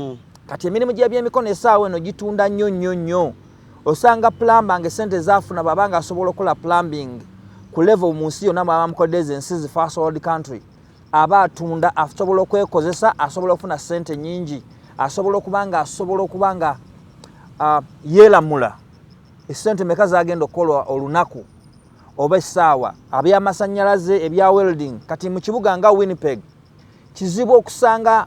mm. kati emirimu gyebyemikono esaawa eno gitunda nnyo nnyo nnyo osanga plamba nga esente zafuna bwaba nga asobola okukola plumbing ku level mu nsi yonna mwaba mukodde ezo ensi zi first world country aba atunda asobola okwekozesa asobola okufuna sente nyingi asobola okuba nga asobola okuba nga uh, yeelamula esente meka zagenda okukolwa olunaku oba essaawa abyamasannyalaze ebya welding kati mu kibuga nga winnipeg Kizibu okusanga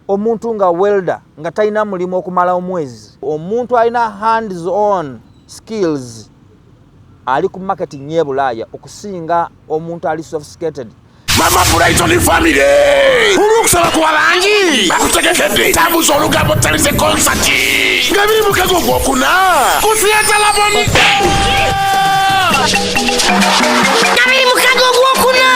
omuntu nga welder nga talina mulimu okumala omwezi. Omuntu alina hands on skills ali ku market nye bulaaya okusinga omuntu ali sophisticated mama brighton family olwokusaba kuba bangi bakutegekedde tambuza olugambo talize konsati nga biri mukego gwokuna kusiyatalabonide kabiri mukaga ogwokuna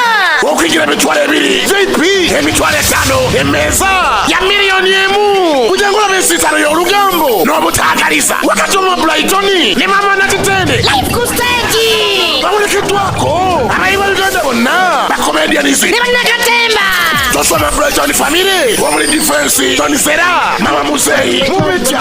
okwigira emitwalo ebiri vp emitwalo etaano emmeeza ya miliyoni emu kuja ngolaba ensiisano y'olugambo n'obutaagaliza wakati omwa bulayitoni ne mama natitende live ku stage bawerekeddwako abayi ba uganda bonna bakomedianizi ne bannakatemba tosoma bulayitoni famire omuli difensi tonisera mama muzeyi mubitya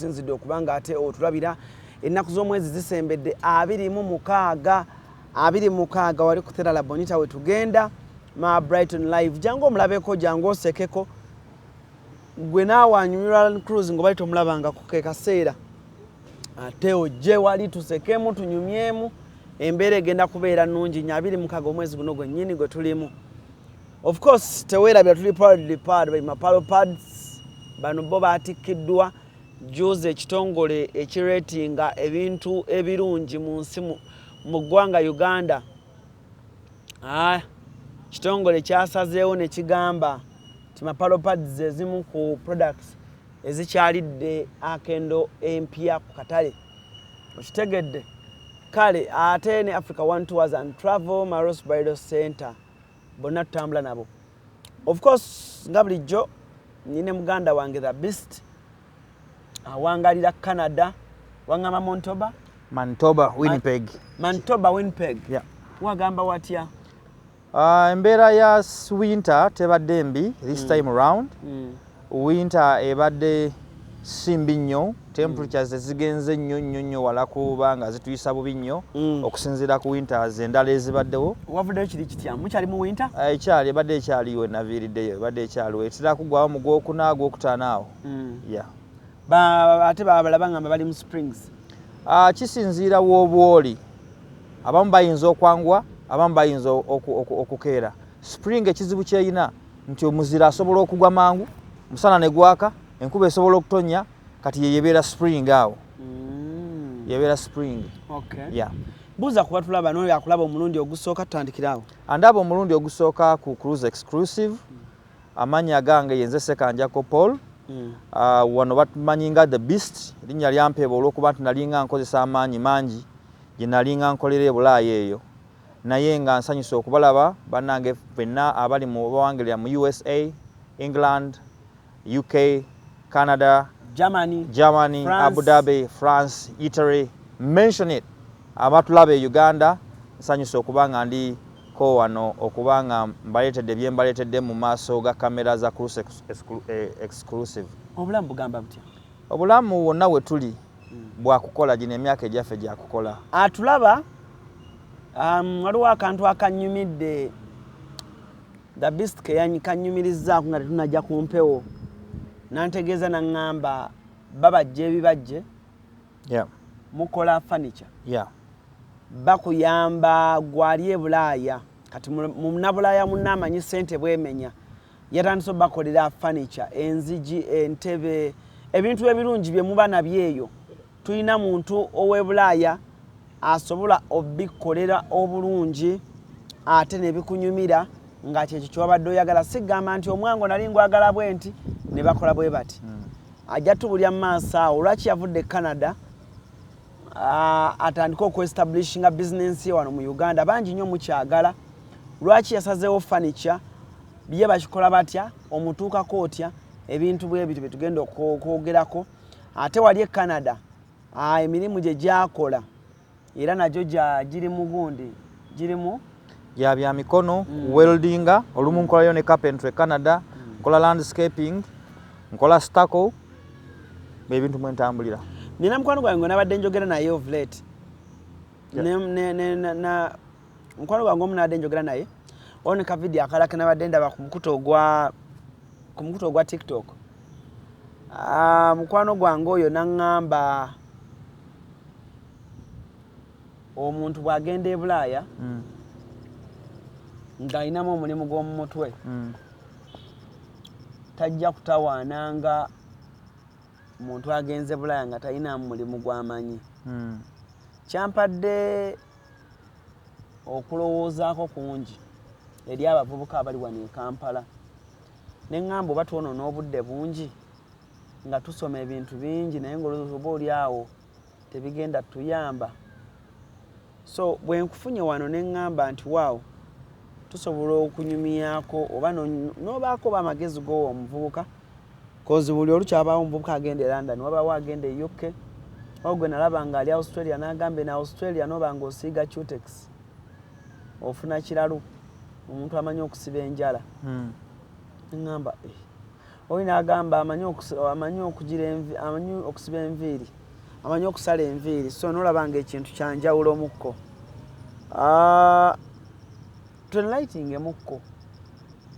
tusinzidde okuba nga ate otulabira ennaku z'omwezi zisembedde abiri mu mukaaga abiri mukaaga wali kutera labonita we tugenda ma brighton live jangu omulabeko jangu osekeko gwe naawe anyumirwa cruz ngaobali tomulabangako ke kaseera ate ojje wali tusekemu tunyumyemu embeera egenda kubeera nungi nyo abiri mukaaga omwezi guno gwennyini gwe tulimu Of course tewerabira tuli proudly powered by Mapalo Pads. Bano bo batikkiddwa juuzi ekitongole ekireetinga ebintu ebirungi mu nsi mu ggwanga Uganda. Ah, kitongole kyasazeewo ne kigamba nti Mapalo Pads ze zimu ku products ezikyalidde akendo empya ku katale. Okitegedde? Kale ate ne Africa One Tours and Travel Maros Bridal Center bonna tutambula nabo of course nga bulijjo nine muganda wange the best awangalira canada wangamba montoba mantoba winpeg mantoba winpeg yeah. wagamba watya uh, embeera ya winter tebadde mbi this mm. time round mm. Winter ebadde si mbi nnyo, temperatures tezigenze nnyo nnyo nnyo wala kuba nga zituyisa bubi nnyo okusinziira ku winters endala ezibaddewo. Wavuddeyo kiri kitya? Mukyali mu winter? Ekyali ebadde ekyaliyo we naviiriddeyo, ebadde ekyaliwo etera kuggwaawo mu Gwokuna, Gwokutaano awo. Yeah. Ate balala bangamba bali mu springs. Kisinziira w'obwoli, abamu bayinza okwanguwa, abamu bayinza okukeera. Spring ekizibu ky'erina nti omuzira asobola okugwa mangu musana ne gwaka enkuba esobola okutonya kati ye yebeera spring awo mm. yebeera spring okay. yeah. buuza kuba tulaba noyo akulaba omulundi ogusooka tutandikira awo andaba omulundi ogusooka ku cruise exclusive mm. amanya gange yenze sekanjako paul mm. uh, wano batumanyi nga the beast erinnya lyampeeba olwokuba nti nalinga nkozesa amaanyi mangi gye nalinga nkolera ebulaayo eyo Naye nga nsanyuse okubalaba banange fenna abali mu bawangelera mu usa, England, UK, Canada, Germany, Germany France. Abu Dhabi, France, Italy, mention it abatulaba e Uganda nsanyuse okuba nga ndi ko wano okuba nga mbaleetedde bye mbaleetedde mu maaso ga kamera za Cruse Exclusive. Obulamu bugamba butya? Obulamu wonna we tuli bwakukola gino emyaka egyaffe gyakukola atulaba um, waliwo akantu akanyumidde the best kanyumirizaako nga tetunajja ku mpewo nantegeeza naŋŋamba babajja ebibajje yeah. mukola furniture yeah. bakuyamba gwali ebulaaya kati munabulaaya munaamanyi sente bwemenya yatandise obakolera furniture enzigi entebe ebintu ebirungi bye muba nabyo eyo tulina muntu ow'ebulaaya asobola obikolera obulungi ate ne bikunyumira nga kyekyo kyewabadde oyagala sigamba nti omwango nali ngwagala bwe nti ne bakola bwe bati hmm. ajja tubulya mu maaso awo lwaki yavudde e canada atandike okuestablishinga bizinensi ye wano mu uganda bangi nnyo mukyagala lwaki yasazeewo furniture biye bakikola batya omutuukako otya ebintu bwe bityo byetugenda okwogerako ate wali e canada emirimu gye gyakola era nagyo giri mu gundi girimu gya bya mikono mm. weldinga olumu nkolayo ne carpentry e canada mm. nkola landscaping nkola staco bebintu mwentambulira nina mukwano gwange nabadde njogera naye ovlet mukwano gwange omu nabadde njogera naye waliwo ne kavidiyo akalala kenabadde ndaba ku mukutu ogwa ku mukutu ogwa tiktok ah, mukwano gwange oyo naŋŋamba omuntu bw'agenda ebulaaya mm. ng'alinamu omulimu gw'omu mutwe mm. tajja kutawaana nga muntu agenze bulaaya nga talinamu mulimu gwamanyi mm. kyampadde okulowoozaako kungi eri abavubuka abali wano e kampala ne ŋŋamba oba twonoona obudde bungi nga tusoma ebintu bingi naye ngaolowooza oba oli awo tebigenda tuyamba so bwe nkufunye wano ne ŋŋamba nti waawo tusobola okunyumyako oba n'obaako oba amagezi gowa omuvubuka Kozi buli olukya wabaawo omuvubuka agenda e London, wabaawo agenda e UK, wabaawo gwe nalaba ng'ali Australia n'agamba eno Australia n'oba ng'osiiga cutex ofuna kiralu omuntu amanyi okusiba enjala hmm. ngamba eh. oli nagamba amanyi okugira amanyi okusiba enviiri amanyi okusala enviiri so nolaba nga ekintu kyanjawulo omukko ah, twelightingemukko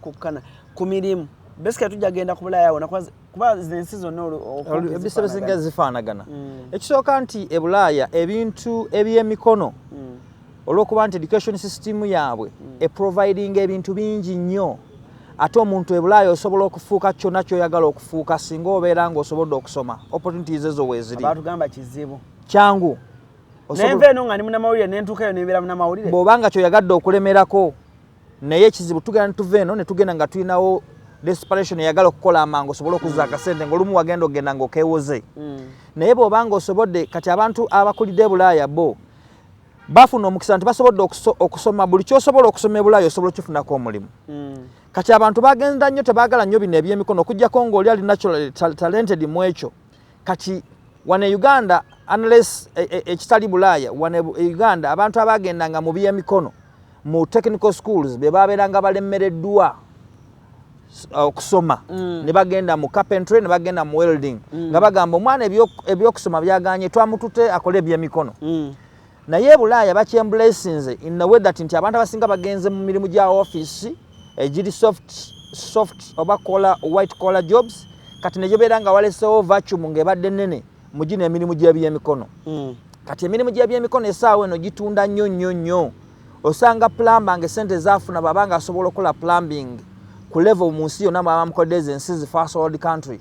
kukkana ku mirimu basically tujja genda ku bulaaya wona kuba zensi zonna ebisa ebisinga zifaanagana mm. ekisooka nti ebulaaya ebintu ebyemikono mm. olwokuba nti education system yaabwe mm. eprovidinga ebintu bingi nnyo ate omuntu ebulaaya osobola okufuuka kyonna kyoyagala okufuuka singa obeera nga osobodde okusoma opportunities ezo weeziri kyangu nenva eno nga ndi munamawulire nentuukayo nembeera munamawulire bw'oba nga kyoyagadde okulemerako naye ekizibu tugenda netuva eno netugenda nga tulinawo desperation eyagala okukola amangu osobole okuzza akasente ngaolumu wagenda okugenda nga okewoze mm. naye bwobanga osobodde kati abantu abakulidde ebulaaya bo bafuna omukisa nti basobodde okusoma buli kyosobola okusoma ebulaaya osobola okifunako omulimu mm. kati abantu bagenda nnyo tebagala nnyo bino ebyemikono okujjako ngaoli ali natural talented mu ekyo kati wano e uganda unless e, e, ekitali e, e, bulaaya wano e, e uganda abantu abaagendanga mu byemikono mu technical schools be baabeeranga balemmereddwa uh, okusoma mm. ne bagenda mu carpentry ne bagenda mu welding mm. nga bagamba omwana ebyokusoma byaganye twamutute akole ebyemikono mm. naye ebulaaya bakyembulesinze in a way that nti abantu abasinga bagenze mu mirimu gya office egiri eh, soft soft oba kola white collar jobs kati nejobeera nga walesewo vacuum ngaebadde nene mugino emirimu gyebyemikono mm. kati emirimu gyebyemikono esaawa eno gitunda nnyo nnyo nnyo osanga plamba nga esente zafuna baba nga asobola okukola plumbing ku level mu nsi yonna baba mukodde ezo ensi zifasold country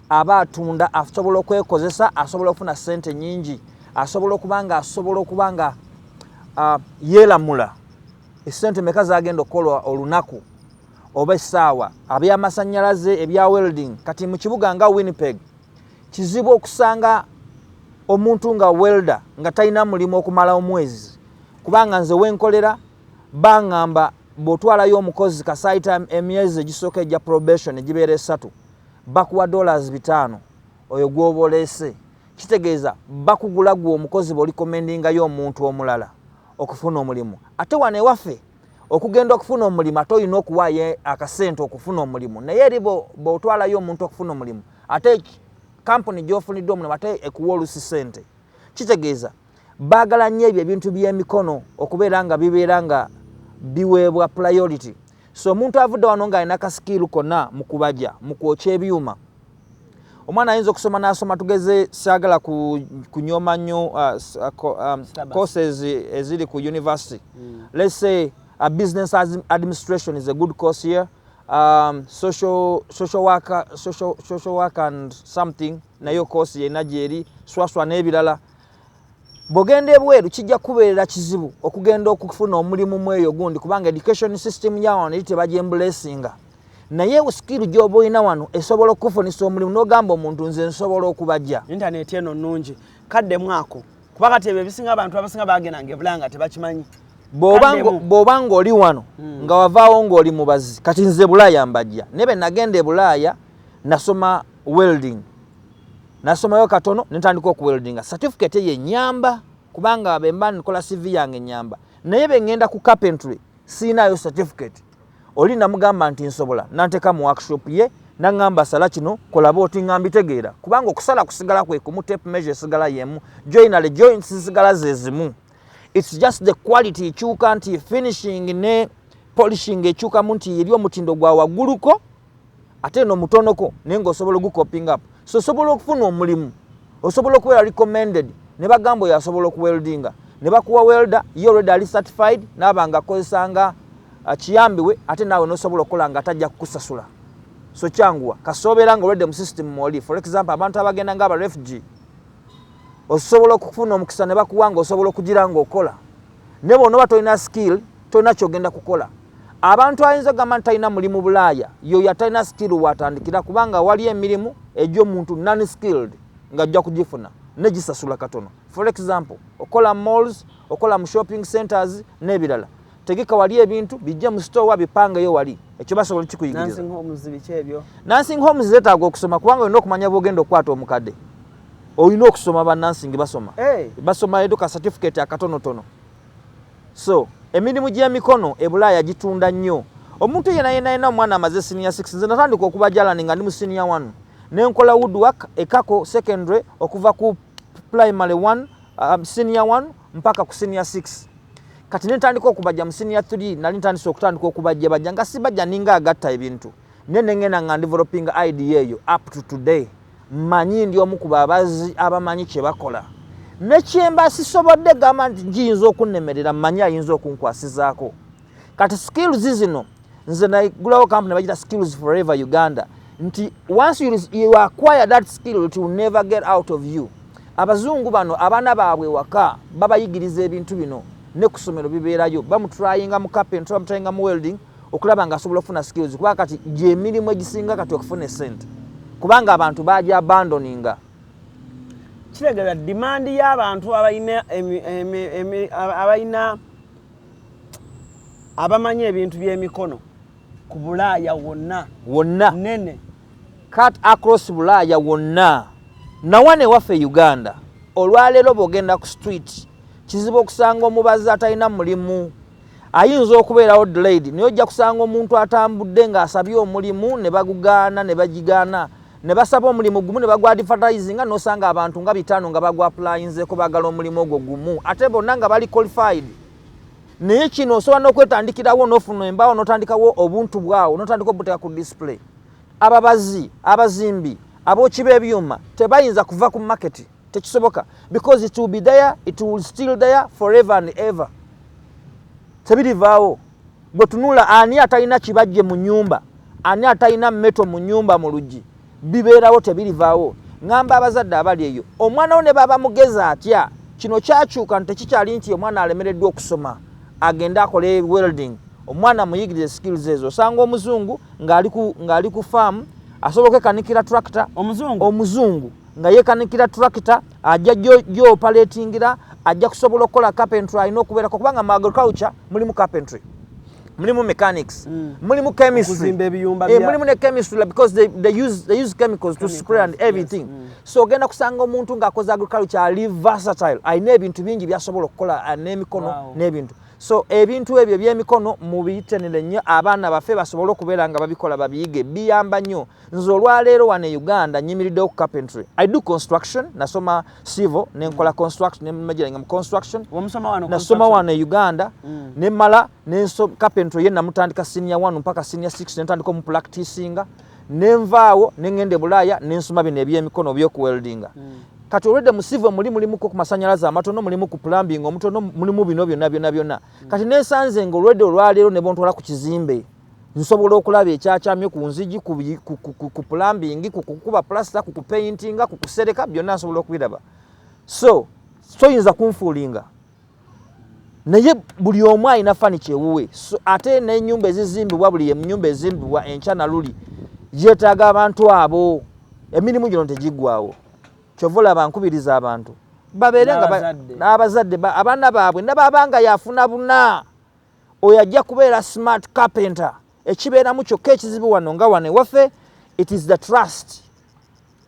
aba atunda asobola okwekozesa asobola okufuna sente nyingi asobola okuba nga asobola okuba nga uh, yelamula esente meka zagenda okukola olunaku oba essaawa abyamasanyalaze ebya welding kati mu kibuga nga winnipeg kizibu okusanga omuntu nga welda nga talina mulimu okumala omwezi kubanga nze wenkolera bangamba bwotwalayo omukozi kasaita emyezi egisooka egya probation egibeera esatu Bakuwa dollars bitaano oyo gwoba oleese kitegeeza bakugula gwe omukozi bwolikomendingayo omuntu omulala okufuna omulimu ate wano ewaffe okugenda okufuna omulimu ate olina okuwaayo akasente okufuna omulimu naye eri bwotwalayo omuntu okufuna omulimu ate kampuni gyofunidde omulimu ate ekuwa olusi sente kitegeeza Baagala nnyo ebyo ebintu by'emikono okubeera nga bibeera nga biweebwa priority. So omuntu avudde wano ng'alina ka sikiiru konna mu kubaja, mu kwokya ebyuma. Omwana ayinza okusoma n'asoma tugeze saagala kunyooma nnyo uh, uh, um, courses eziri ku university. Mm. Let's say a business administration is a good course here. Um, social, social, worker, social, social work and something nayo course yena gyeri swaswa n'ebirala bwogenda ebweru kijja kukubeerera kizibu okugenda okufuna omulimu mu eyo gundi kubanga education system ya wano eri tebagyembulesinga naye sikiru gyoba olina wano esobola okukufunisa omulimu n'ogamba omuntu nze nsobola okubajja intaneti eno nnungi kadde mwako kuba kati ebyo ebisinga abantu abasinga bagenda nga ebulanga tebakimanyi bw'oba ng'oli wano hmm. nga wavaawo ng'oli mubazi kati nze bulaaya mbajja naye be nagenda e bulaaya nasoma welding nasomayo katono nentandika okuweldinga certificate eyo enyamba kubanga bemba nkola cv yange enyamba naye bengenda ku carpentry siinayo certificate oli namugamba nti nsobola nanteka mu workshop ye nangamba sala kino kolaba oti nga mbitegeera kubanga okusala kusigala kwekumu tape measure esigala yemu joinale joints zisigala zezimu its just the quality ekyuka nti finishing ne polishing ekyukamu nti eri omutindo gwa wagguluko ate no mutonoko naye nga osobola ogukoping up so osobola okufuna omulimu osobola okubeera recommended ne bagamba oyo asobola okuweldinga ne bakuwa welder ye olredi ali certified naaba nga akozesanga uh, kiyambiwe ate naawe nosobola okukola nga atajja kukusasula so kyanguwa kasobeera nga olredi mu system mwoli for example abantu abagenda nga abarefugee osobola okufuna omukisa ne bakuwa nga osobola okugira nga okola ne bona oba tolina skill tolina kyogenda kukola Abantu ayinza ogamba nti talina mulimu bulaaya yoyo atalina skill watandikira kubanga wali emirimu egyo omuntu non skilled nga ajja kugifuna negisasula katono for example okola malls okola mu shopping centers n'ebirala tegeka wali ebintu bijje mu store bipangeyo wali ekyo basobola kikuyigiriza nansing homes zetaaga okusoma kubanga olina okumanya bwogenda okukwata omukadde olina okusoma ba nansing basoma hey. Eh. basoma eduka certificate akatonotono So emirimu gy'emikono e Bulaaya gitunda nnyo. Omuntu yena yena yena omwana amaze senior 6 nze natandika okuba jalani nga ndi mu senior 1 ne nkola woodwork ekako secondary okuva ku primary 1 um, senior 1 mpaka ku senior 6 kati ne ntandika okubajja mu senior 3 nali ntandise okutandika okubajja bajja nga sibajja ninga agatta ebintu naye nengenda nga ndeveloping idea eyo up to today manyi ndi omu ku babazi abamanyi kyebakola nekyemba sisobodde gamba nti giyinza okunnemerera manyi ayinza okunkwasizaako kati skills zino nze nagulawo kampuni bagita skills forever uganda nti once you, you acquire that skill it will never get out of you abazungu bano abaana baabwe waka babayigiriza ebintu bino ne ku ssomero bibeerayo bamutrayinga mu carpentry bamutrayinga mu welding okulaba nga asobola okufuna skills kuba kati gyemirimu egisinga kati okufuna esente kubanga abantu baja abandoninga kiregera demand y'abantu abalina abalina abamanyi ebintu by'emikono ku bulaaya wonna wonna nene cut across bulaaya wonna nawana ewaffe e uganda olwaleero bwogenda ku street kizibu okusanga omubazi atalina mulimu ayinza okubeerawo delayed naye ojja kusanga omuntu atambudde ng'asabye omulimu ne bagugaana ne bagigaana ne basaba omulimu gumu ne bagwadifatizinga n'osanga abantu nga bitaano nga bagwapulayinzeko baagala omulimu ogwo gumu ate bonna nga bali qualified naye kino osobola n'okwetandikirawo n'ofuna embaawo n'otandikawo obuntu bwawo n'otandika obuteeka ku display ababazi abazimbi abooki b'ebyuma tebayinza kuva ku maketi tekisoboka because it will be there it will still there forever and ever tebirivaawo gwe tunula ani atalina kibajje mu nyumba ani atalina meto mu nyumba mu luggi bibeerawo tebirivaawo ŋamba abazadde abali eyo omwana wo ne baba mugezi atya kino kyakyuka nti tekikyali nti omwana alemereddwa okusoma agende akole welding omwana muyigirize skills ezo osanga omuzungu ng'ali ku faamu asobola okwekanikira tractor omuzungu nga yekanikira tractor ajja gyopaletingira ajja kusobola okukola carpentry alina okubeerako kubanga mu agriculture mulimu carpentry mulimu mechanics mm. mulimu chemistry eh, mulimu ne chemistry because they, they, use, they use chemicals, chemicals to spray and everything yes. mm. so ogenda kusanga omuntu ng'akoze agriculture ali versatile alina ebintu bingi byasobola okukola ah, n'emikono wow. n'ebintu so ebintu ebyo ebyemikono mubiyitenire nnyo abaana baffe basobole okubeera nga babikola babiyige biyamba nnyo Nze olwaleero wano e Uganda nyimiriddewo ku carpentry. I do construction, nasoma civil, ne nkola construction, ne majira nga mu construction. Wamusoma wano construction? Nasoma wano e Uganda, mm. ne mala, ne nso carpentry ye namutandika senior wano mpaka senior six, ne ntandika mu practicinga, ne nvaawo, ne ngende e bulaya, ne nsoma bino ebyemikono byoku weldinga. Mm. Kati olwedde mu civil muli mulimu ku masanyalaza amatono, mulimu ku plumbing omutono, mulimu bino byona byona byona. Mm. Kati ne nsanze nga olwedde olwaleero ne bontwala ku kizimbe. nsobola okulaba ekyakyamye ku nzigi ku plumbing ku kukuba plaster ku kupaintinga ku kusereka byonna nsobola okubiraba so soyinza kunfuulinga naye buli omu alina fani kyewuwe so, ate nenyumba ezizimbibwa buli enyumba ezimbibwa enkya naluli yetaaga abantu abo emirimu gino tegiggwawo kyova olaba nkubiriza abantu babeere nga n'abazadde abaana baabwe nababanga yafuna buna oyo ajja kubeera smart carpenter ekibeeramu kyokka ekizibu wano nga wano ewaffe it is the trust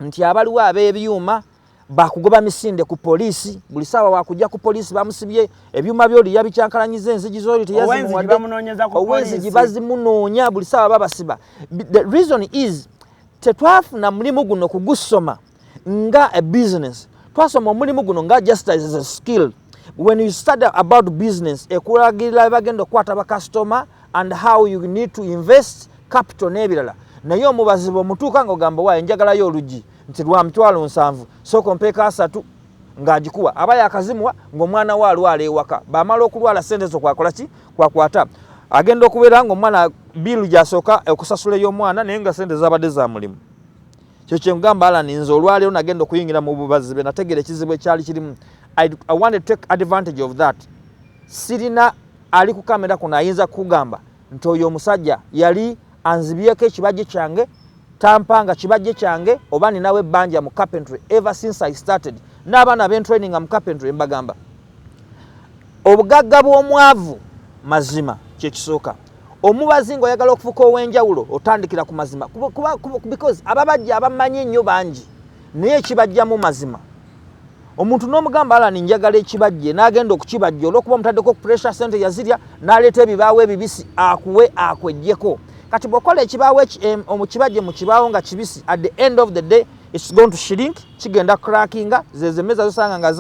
nti abaliwo ab'ebyuma bakugoba misinde ku polisi buli sawa wakujja ku polisi bamusibye ebyuma byoli yabikyankalanyiza enzigi zoli teyazimuwaddeowenzigi bazimunoonya buli sawa babasiba the reason is tetwafuna mulimu guno kugusoma nga a business twasoma omulimu guno nga just as a skill when you study about business ekulagirira bagenda okukwata bakasitoma and how you need to invest capital n'ebirala naye omubazi bwemutuuka nga ogamba waayo njagalayo olugi nti lwa mitwalo nsanvu sooka mpeeka asatu ng'agikuwa aba yakazimuwa ng'omwana we alwala ewaka bamala okulwala sente zo kwakola ki kwakwata agenda okubeera ng'omwana biiru gyasooka okusasula ey'omwana naye nga sente zabadde za mulimu kyo kyengamba alan nze olwaleero nagenda okuyingira mu bubazi be nategeera ekizibu ekyali kirimu i want to take advantage of that sirina ali ku kamera kuno ayinza kukugamba nti oyo omusajja yali anzibyeko ekibajje kyange tampanga kibajje kyange oba ninawo ebbanja mu carpentry ever since i started n'abaana bentraininga mu carpentry mbagamba obugagga bw'omwavu mazima kyekisooka omubazi nga oyagala okufuka owenjawulo otandikira ku mazima because ababajja abamanyi ennyo bangi naye ekibajjamu mazima omuntu n'omugamba alani njagala ekibajje n'agenda okukibajja olwokuba omutaddeko pressure sente yazirya n'aleeta ebibaawo ebibisi akuwe akwejjeko kati bwokola ekibaawo omukibajje mu kibaawo nga kibisi at the end of the day its going to shrink kigenda crackinga zezemeza zosanga nga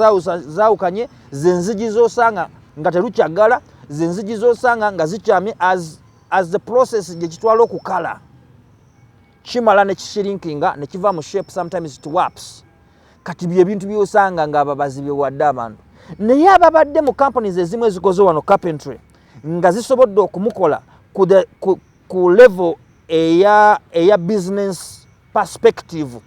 zawukanye zenzigi zosanga nga terukyagala zenzigi zosanga nga zikyami as, as the process gyekitwala okukala kimala nekishirinkinga nekiva mu shape sometimes it waps kati byebintu byosanga nga ababazi bewadde abantu naye ababadde mu companies ezimu ezikoze wano carpentry nga zisobodde okumukola ku, the, ku, ku level eya, eya business perspective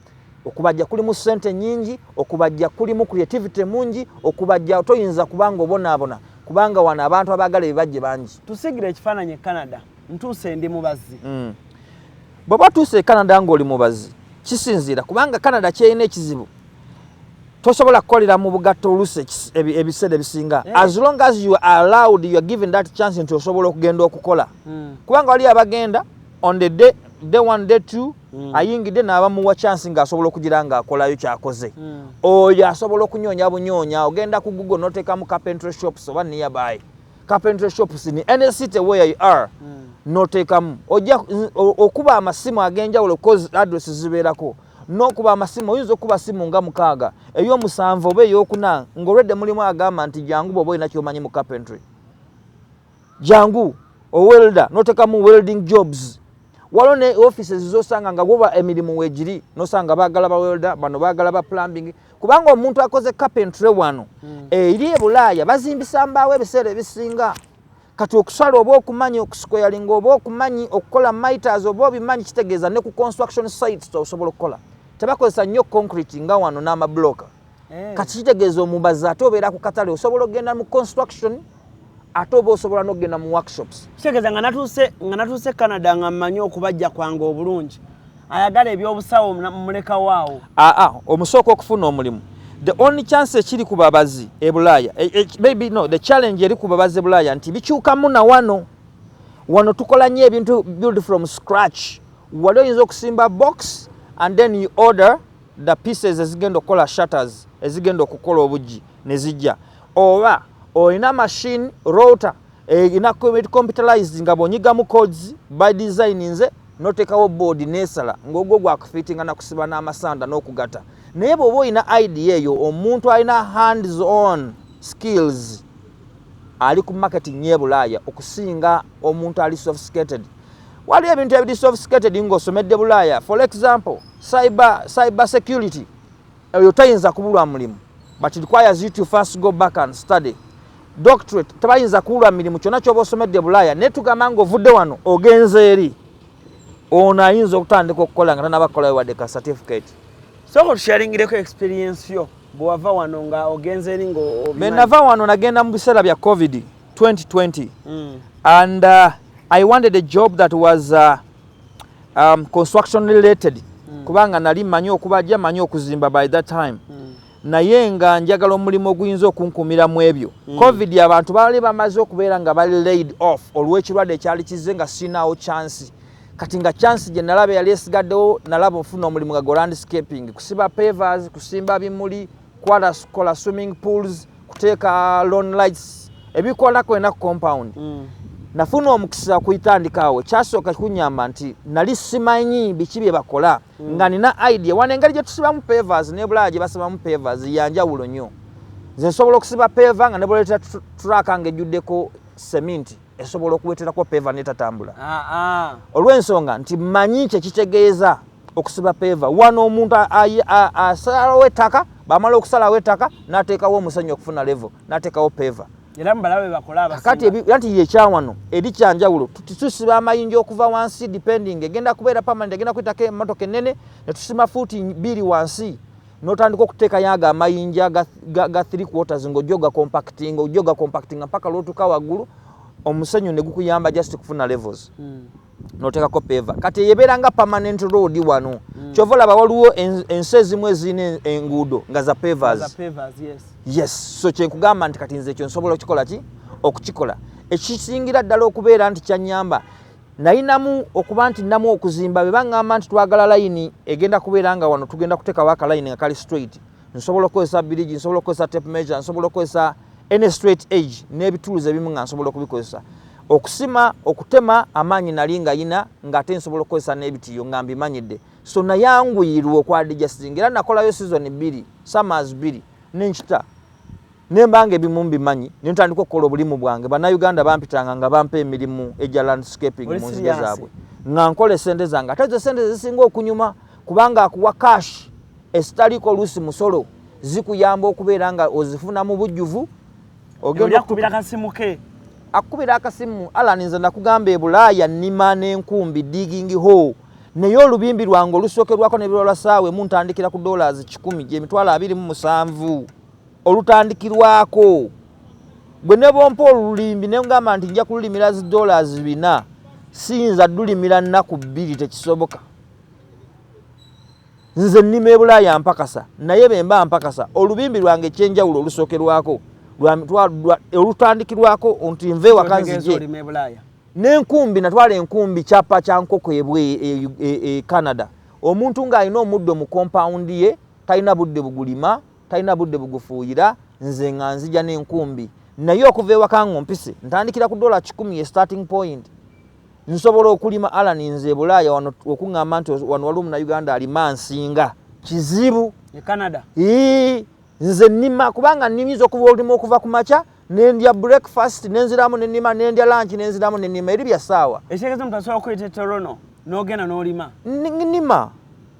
okubajja kulimu sente nyingi okubajja kulimu creativity mungi okubajja toyinza kubanga obonaabona kubanga wano abantu abagala ebibajje bangi tusigira ekifaananyi e canada ntuuse ndi mubazi mm. bweba otuuse e canada ngaoli mubazi kisinziira kubanga canada kyerina ekizibu tosobola kukolera mu bugatto olusi ebiseera ebisinga eh. as long as you are allowed you are given that chance nti osobola okugenda okukola mm. kubanga waliyo abagenda on the day day one day two mm. ayingidde n'abamuwa chance ng'asobola okugira ng'akolayo kyakoze mm. oyo asobola okunyoonya bunyoonya ogenda ku google n'oteekamu carpentry shops oba nearby carpentry shops ni any city where you are mm. n'oteekamu ojja okuba amasimu ag'enjawulo cause address zibeerako n'okuba amasimu oyinza okuba simu nga mukaaga ey'omusanvu oba ey'okuna ng'olwedde mulimu agamba nti jangu bw'oba olina ky'omanyi mu carpentry jangu owelda notekamu welding jobs waliwo ne offices zosanga nga woba emirimu wegiri nosanga bagala bawelda bano bagala ba plumbing kubanga omuntu akoze carpentry wano mm. eri ebulaaya bazimbisa mbaawo ebiseera ebisinga kati okusala oba okumanyi okusikoyalinga oba okumanyi okukola miters oba obimanyi kitegeeza ne ku construction sites osobola okukola tebakozesa nnyo concrete nga wano n'amabulooka eh. kati kitegeeza omubazi ate obeera ku katale osobola okugenda mu construction ate oba osobola n'okugenda mu workshops kitegeeza nga natuuse nga natuuse canada nga mmanyi okubajja kwange obulungi ayagala ebyobusawo mulekawaawo aa ah, ah, omusooka okufuna omulimu the only chance ekiri ku babazi e bulaaya e, e, maybe no the challenge eri ku babazi e bulaaya nti bikyukamu na wano wano tukola nnyo ebintu build from scratch wali oyinza okusimba box and then you order the pieces ezigenda okukola shutters ezigenda okukola obuggi ne zijja oba olina machine router erina eh, computerized nga bwonyigamu codes by design nze notekawo board nesala ngogwo gwakufitinga nakusiba n'amasanda n'okugata naye bwoba olina idea eyo omuntu alina hands on skills ali ku market nyebulaaya okusinga omuntu ali sophisticated waliyo ebintu ebiri sophisticated ng'osomedde bulaaya for example cyber, cyber security eyo tayinza kubulwa mulimu but requires you to first go back and study doctorate tebayinza kuwulwa mirimu kyonna kyoba osomedde bulaaya naye tugamba ngaovudde wano ogenze eri ono ayinza okutandika okukola nga tanaba kukolayo wadde ka certificate soko tusharingireko experience yo bwewava wano nga ogenze eri ngaobenava wano nagenda mu biseera bya covid 2020 mm. and uh, I wanted a job that was uh, um, construction related mm. kubanga nali manyi okuba ja manyi okuzimba by that time mm. naye nga njagala omulimu oguyinza okunkumira mu ebyo mm. covid abantu baali bamaze okubeera nga bali laid off olw'ekirwadde ekyali kizze nga sinaawo chansi kati nga chansi gye nalaba eyali esigaddewo nalaba ofuna omulimu nga go landscaping kusiba pavers kusimba bimuli kwala kola swimming pools kuteeka lon lights ebikola kwena ku compound mm. nafuna omukisa kuyitandikaawo kyasooka kunyamba nti nali simanyi biki bye bakola mm. nga nina idea wana engeri gye tusibamu pavers nebulaya gye basibamu pavers yanjawulo nnyo nze nsobola okusiba peva nga nebwoleta turaka nga ejjuddeko seminti esobola okuweterako peva netatambula ah, ah. olw'ensonga nti manyi kyekitegeeza okusiba peeva wano omuntu asalawo ettaka bamala okusalawo ettaka nateekawo omusenyu okufuna levo nateekawo peeva kati yekyawano eri kyanjawulo tusiba amayinja okuva wansi depending egenda kubeera permanent egenda kuyitako emotoka enene netusima fuuti bbiri wansi notandika okuteekayo ago amayinja ga three quarters ngaojoga compacting ojoga compacting mpaka lwotuka waggulu omusenyu negukuyamba just kufuna levels mm. notekako peva kati eyebeera nga permanent road wano mm. kyova olaba waliwo ensi ezimu ezirina enguudo nga za pevers yes. yes so kyenkugamba nti kati nze ekyo nsobola okukikola ki okukikola ekisingira ddala okubeera nti kyanyamba nayinamu okuba nti namu okuzimba bebangamba nti twagala layini egenda kubeera nga wano tugenda kutekawo akalayini nga kali straight mm. nsobola okukozesa birigi nsobola okukozesa tape measure nsobola okukozesa any straight age n'ebituluzi ebimu nga nsobola okubikozesa okusima okutema amaanyi nali nga yina ng'ate nsobola okukozesa n'ebitiyo nga mbimanyidde so nayanguyirwa okwadijasizinga era nakolayo sizoni bbiri summers bbiri nenkita ne mbanga ebimu mbimanyi ne ntandika okukola obulimu bwange bannayuganda bampitanga nga bampa emirimu egya landscaping mu nzige zaabwe nga nkola esente zange ate ezo esente zisinga okunyuma kubanga akuwa cash esitaliko oluusi musolo zikuyamba okubeera nga ozifuna mu bujjuvu ogendakubira akasimu ke akukubira akasimu alani nze nakugamba ebulaaya nnima n'enkumbi digingi ho naye olubimbi lwange olusookerwako nebirwa lwa saawa emu ntandikira ku dollars kikumi gyemitwalo abiri mu musanvu olutandikirwako gwe ne bwompa olulimbi ne ngamba nti nja kululimira zi dollars bina siyinza dulimira nnaku bbiri tekisoboka nze nnima ebulaaya mpakasa naye bemba mpakasa olubimbi lwange ekyenjawulo olusookerwako olutandikirwako nti nva ewakanzije nenkumbi natwala enkumbi kyapa kyankoko ebwe e, e, e, e canada omuntu ng'alina omuddo mu kompawundi ye talina budde bugulima talina budde bugufuuyira nze nga nzija n'enkumbi naye okuva ewaka nga ompise ntandikira ku dola kikumi ye starting point nsobola okulima alani nze ebulaaya wano okuŋŋamba nti wano waliwo munauganda alima nsinga kizibu e canada ii nze nnima kubanga nnyinza okuba olima okuva ku makya nendya breakfast nenziramu nenima nendya lunch nenziramu nenima eri bya saawa ekitegeeza omuntu asobola okuyita etorono n'ogenda n'olima nima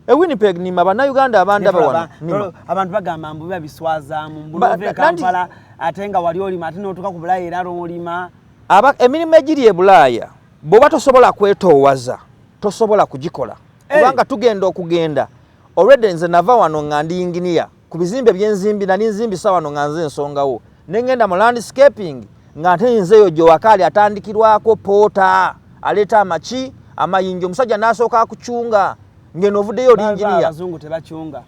e winnipeg nima bannayuganda abandaba wano nima abantu bagamba mbu biba biswazaamu mbulove kampala ate nga wali olima ate n'otuuka ku bulaaya era lwolima aba emirimu egiri e bulaaya bw'oba tosobola kwetoowaza tosobola kugikola kubanga tugenda okugenda olwedde nze nava wano nga ndi yinginiya ku bizimbe byenzimbi nali nzimbisa wano nga nze ensongawo nengenda mu landscaping nga nte nze eyo gyowakaali atandikirwako poota aleeta amaki amayinja omusajja nasooka kucunga ngeno ovuddeyo olinjiniya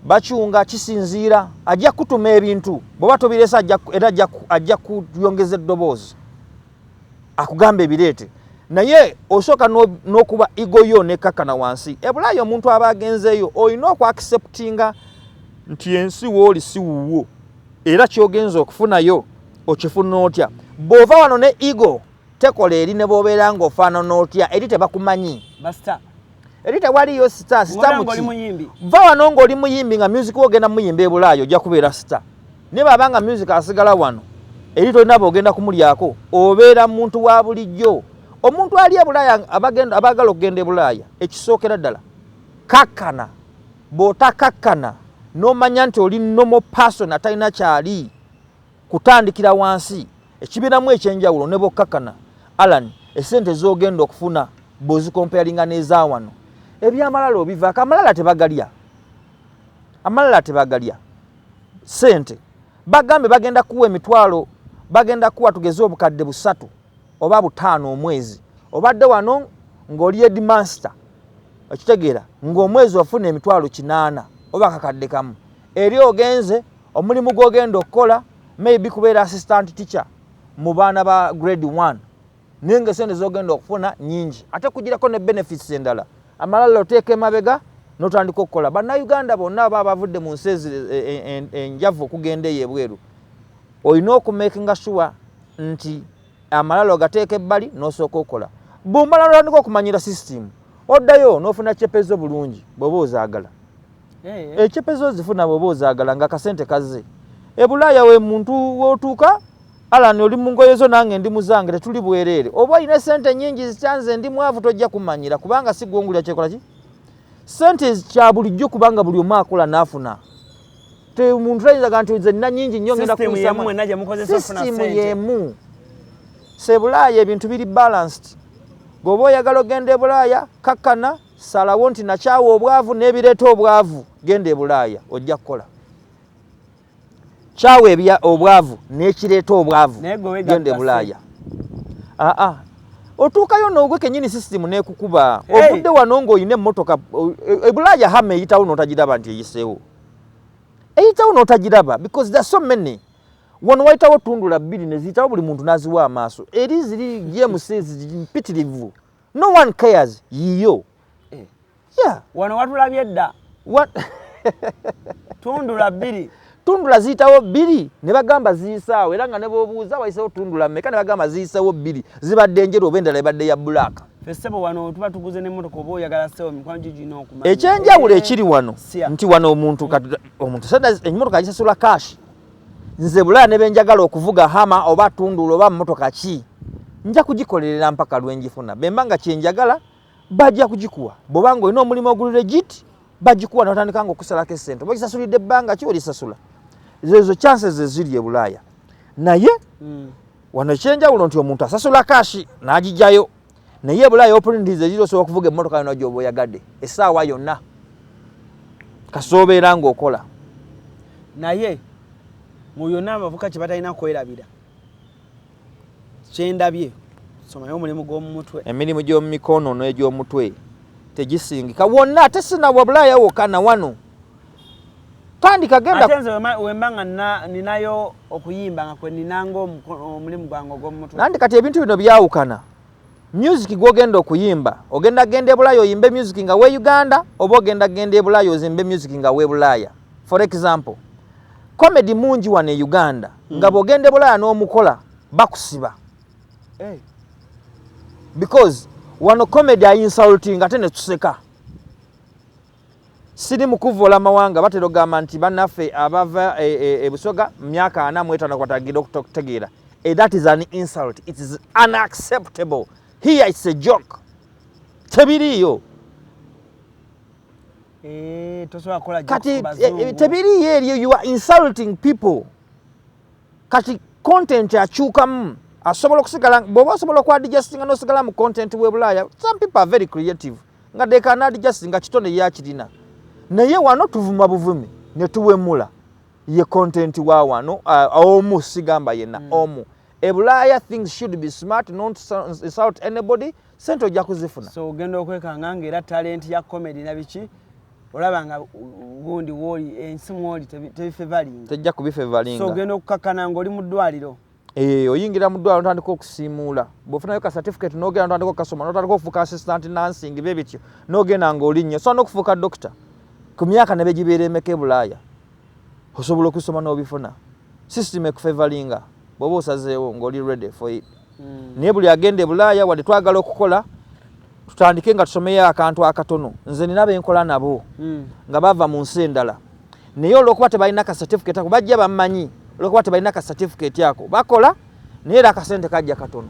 bacunga kisinziira ajja kutuma ebintu bwoba tobiresa era ajja kuyongeza eddoboozi akugamba ebireete naye osooka n'okuba igo yo nekakkana wansi ebulaayo omuntu aba agenzeeyo olina okwakiseputinga nti ensi wooli si wuwo era kyogenza okufunayo okifuna otya bw'ova wano ne igo tekola eri ne bwobeera ng'ofaanana otya eri tebakumanyi eri tewaliyo sita sita muki va wano ng'oli muyimbi nga music wogenda muyimba ebulaayo ojja kubeera sita Naye baba nga music asigala wano eri tolina bogenda kumulyako obeera muntu wa bulijjo omuntu ali ebulaaya abaagala okugenda ebulaaya ekisookera ddala kakkana bw'otakakkana n'omanya nti oli nomo person atalina kyali kutandikira wansi ekibeeramu ekyenjawulo ne bwokkakkana alan esente z'ogenda okufuna bw'ozikompeyalinga n'eza wano ebyamalala obivaako amalala tebagalya amalala tebagalya sente bagambe bagenda kuwa emitwalo bagenda kuwa tugeze obukadde busatu oba butaano omwezi obadde wano ng'oli edmaster okitegeera ng'omwezi ofuna emitwalo kinaana oba kakadde kamu eri ogenze omulimu gw'ogenda okukola maybe kubeera assistant teacher mu baana ba grade one naye nga esente zogenda okufuna nyingi ate kugirako ne benefits endala amalala oteeka emabega notandika okukola bannayuganda bonna aba abavudde mu nsi enjavu okugenda eyo ebweru olina okumakinga sure nti amalala ogateeka ebbali nosooka okukola bumala notandika okumanyira system oddayo nofuna cepezo bulungi bweoba ozaagala eh. ekipezo eh, zifuna bwoba ozagala nga kasente kazze ebulaaya we muntu wotuuka alani oli mungoye zo nange ndi muzange tetuli bwereere oba olina sente nyingi zikyanze ndi mwavu tojja kumanyira kubanga sigwongulira kyekola ki sente kya bulijjo kubanga buli omu akola naafuna omuntu tayinzaga nti nze nina nyingi nnyo ngenda kusistimu yemu sebulaaya ebintu biri balanced gweoba oyagala ogenda ebulaaya kakkana salawo nti nakyawa obwavu n'ebireeta obwavu genda ebulaaya ojja kukola kyawa ebya obwavu n'ekireeta obwavu genda ebulaaya aa otuukayo noogwe kenyini sisitimu nekukuba ovudde wano ng'olina emmotoka ebulaaya e, hama eyitawo n'otagiraba nti eyiseewo eyitawo n'otagiraba because the so many wano wayitawo tundula bbiri neziyitawo buli muntu n'aziwa amaaso eri ziri gmc mpitirivu no one cares yiyo eh. yeah. wano watulabye dda tundula bbiri tundula ziyitawo bbiri ne bagamba ziyisaawo era nga ne bobuuza wayisewo tundula meka ne bagamba ziyisewo bbiri zibadde enjeru oba endala ebadde ya bulaaka fesebo wano tuba tuguze nemotoka oba oyagala sebo mikwano gigina okuma ekyenjawulo ekiri wano nti wano omuntu omuntu enyimotoka agisasula kashi nze bulala ne benjagala okuvuga hama oba tunduula oba mmotoka ki nja kugikolerera mpaka lwenjifuna bemba nga kyenjagala bajja kugikuwa bwoba nga olina omulimu oguli regit bagikuwa notandika nga okusalako esente oba kisasulidde ebbanga ki olisasula zezo chances zeziri e bulaaya naye mm. wano ekyenjawulo nti omuntu asasula kashi n'agijayo naye ebulaayi opportunities eziri osobola okuvuga emmotoka yona gyoba oyagadde essaawa yonna kasoobeera ngaokola naye mu yonna abavuka kye batalina kwerabira kyendabye somayo omulimu gw'omumutwe emirimu gy'omumikono n'egy'omutwe tegisingika wonna ate sinabwa bulaaya wokka na wano tandika genda ate nze wemba nga ninayo okuyimba nga kweninanga omulimu gwange ogwomumutwe nandi kati ebintu bino byawukana music gwogenda okuyimba ogenda genda ebulaaya oyimbe music nga we uganda oba ogenda genda ebulaaya ozimbe music nga we bulaaya for example comedy mungi wano e uganda mm. nga bwogenda ebulaaya n'omukola bakusiba hey. Eh. because wano comedy ayinsulting ate netuseka Siri mu kuvvoola amawanga batera okugamba nti bannaffe abava e, e, e Busoga mu myaka ana mu etaano kwatagenda okutegeera. Eh, that is an insult. It is unacceptable. Here it's a joke. Tebiriiyo. Eh, Kati eh, tebiriiyo eriyo you are insulting people. Kati content akyukamu asobola okusigala bw'oba osobola okwa digestinga n'osigala mu content w'e Bulaaya. Some people are very creative. nga they can add just nga kitone yakirina naye wano tuvuma buvumi ne tuwemula ye content wa wano uh, omu sigamba yenna mm. omu ebulaaya things should be smart not insult anybody sente ojja kuzifuna so ogenda okwekanga nga era talenti ya comedy na biki olaba nga gundi woli ensi mwoli tebifevalinga tejja kubifevalinga so ogenda okukakkana ngaoli mu ddwaliro Eh, oyingira mu ddwaliro notandika okusiimuula bwofunayo ka certificate nogenda notandika okukasoma notandika okufuuka assistant nansing be bityo nogenda ngaoli nnyo osobola nokufuuka dokita ku myaka ne begibeera emeka ebulaaya osobola okusoma n'obifuna system ekufevalinga bwoba osazeewo ngaoli ready for it hmm. naye buli agenda ebulaaya wadde twagala okukola tutandike nga tusomeyo akantu akatono nze nina benkola nabo mm. nga bava mu nsi endala naye olwokuba tebalina ka certificate ako bajja bammanyi olwokuba tebalina ka certificate ako bakola naye era akasente kajja katono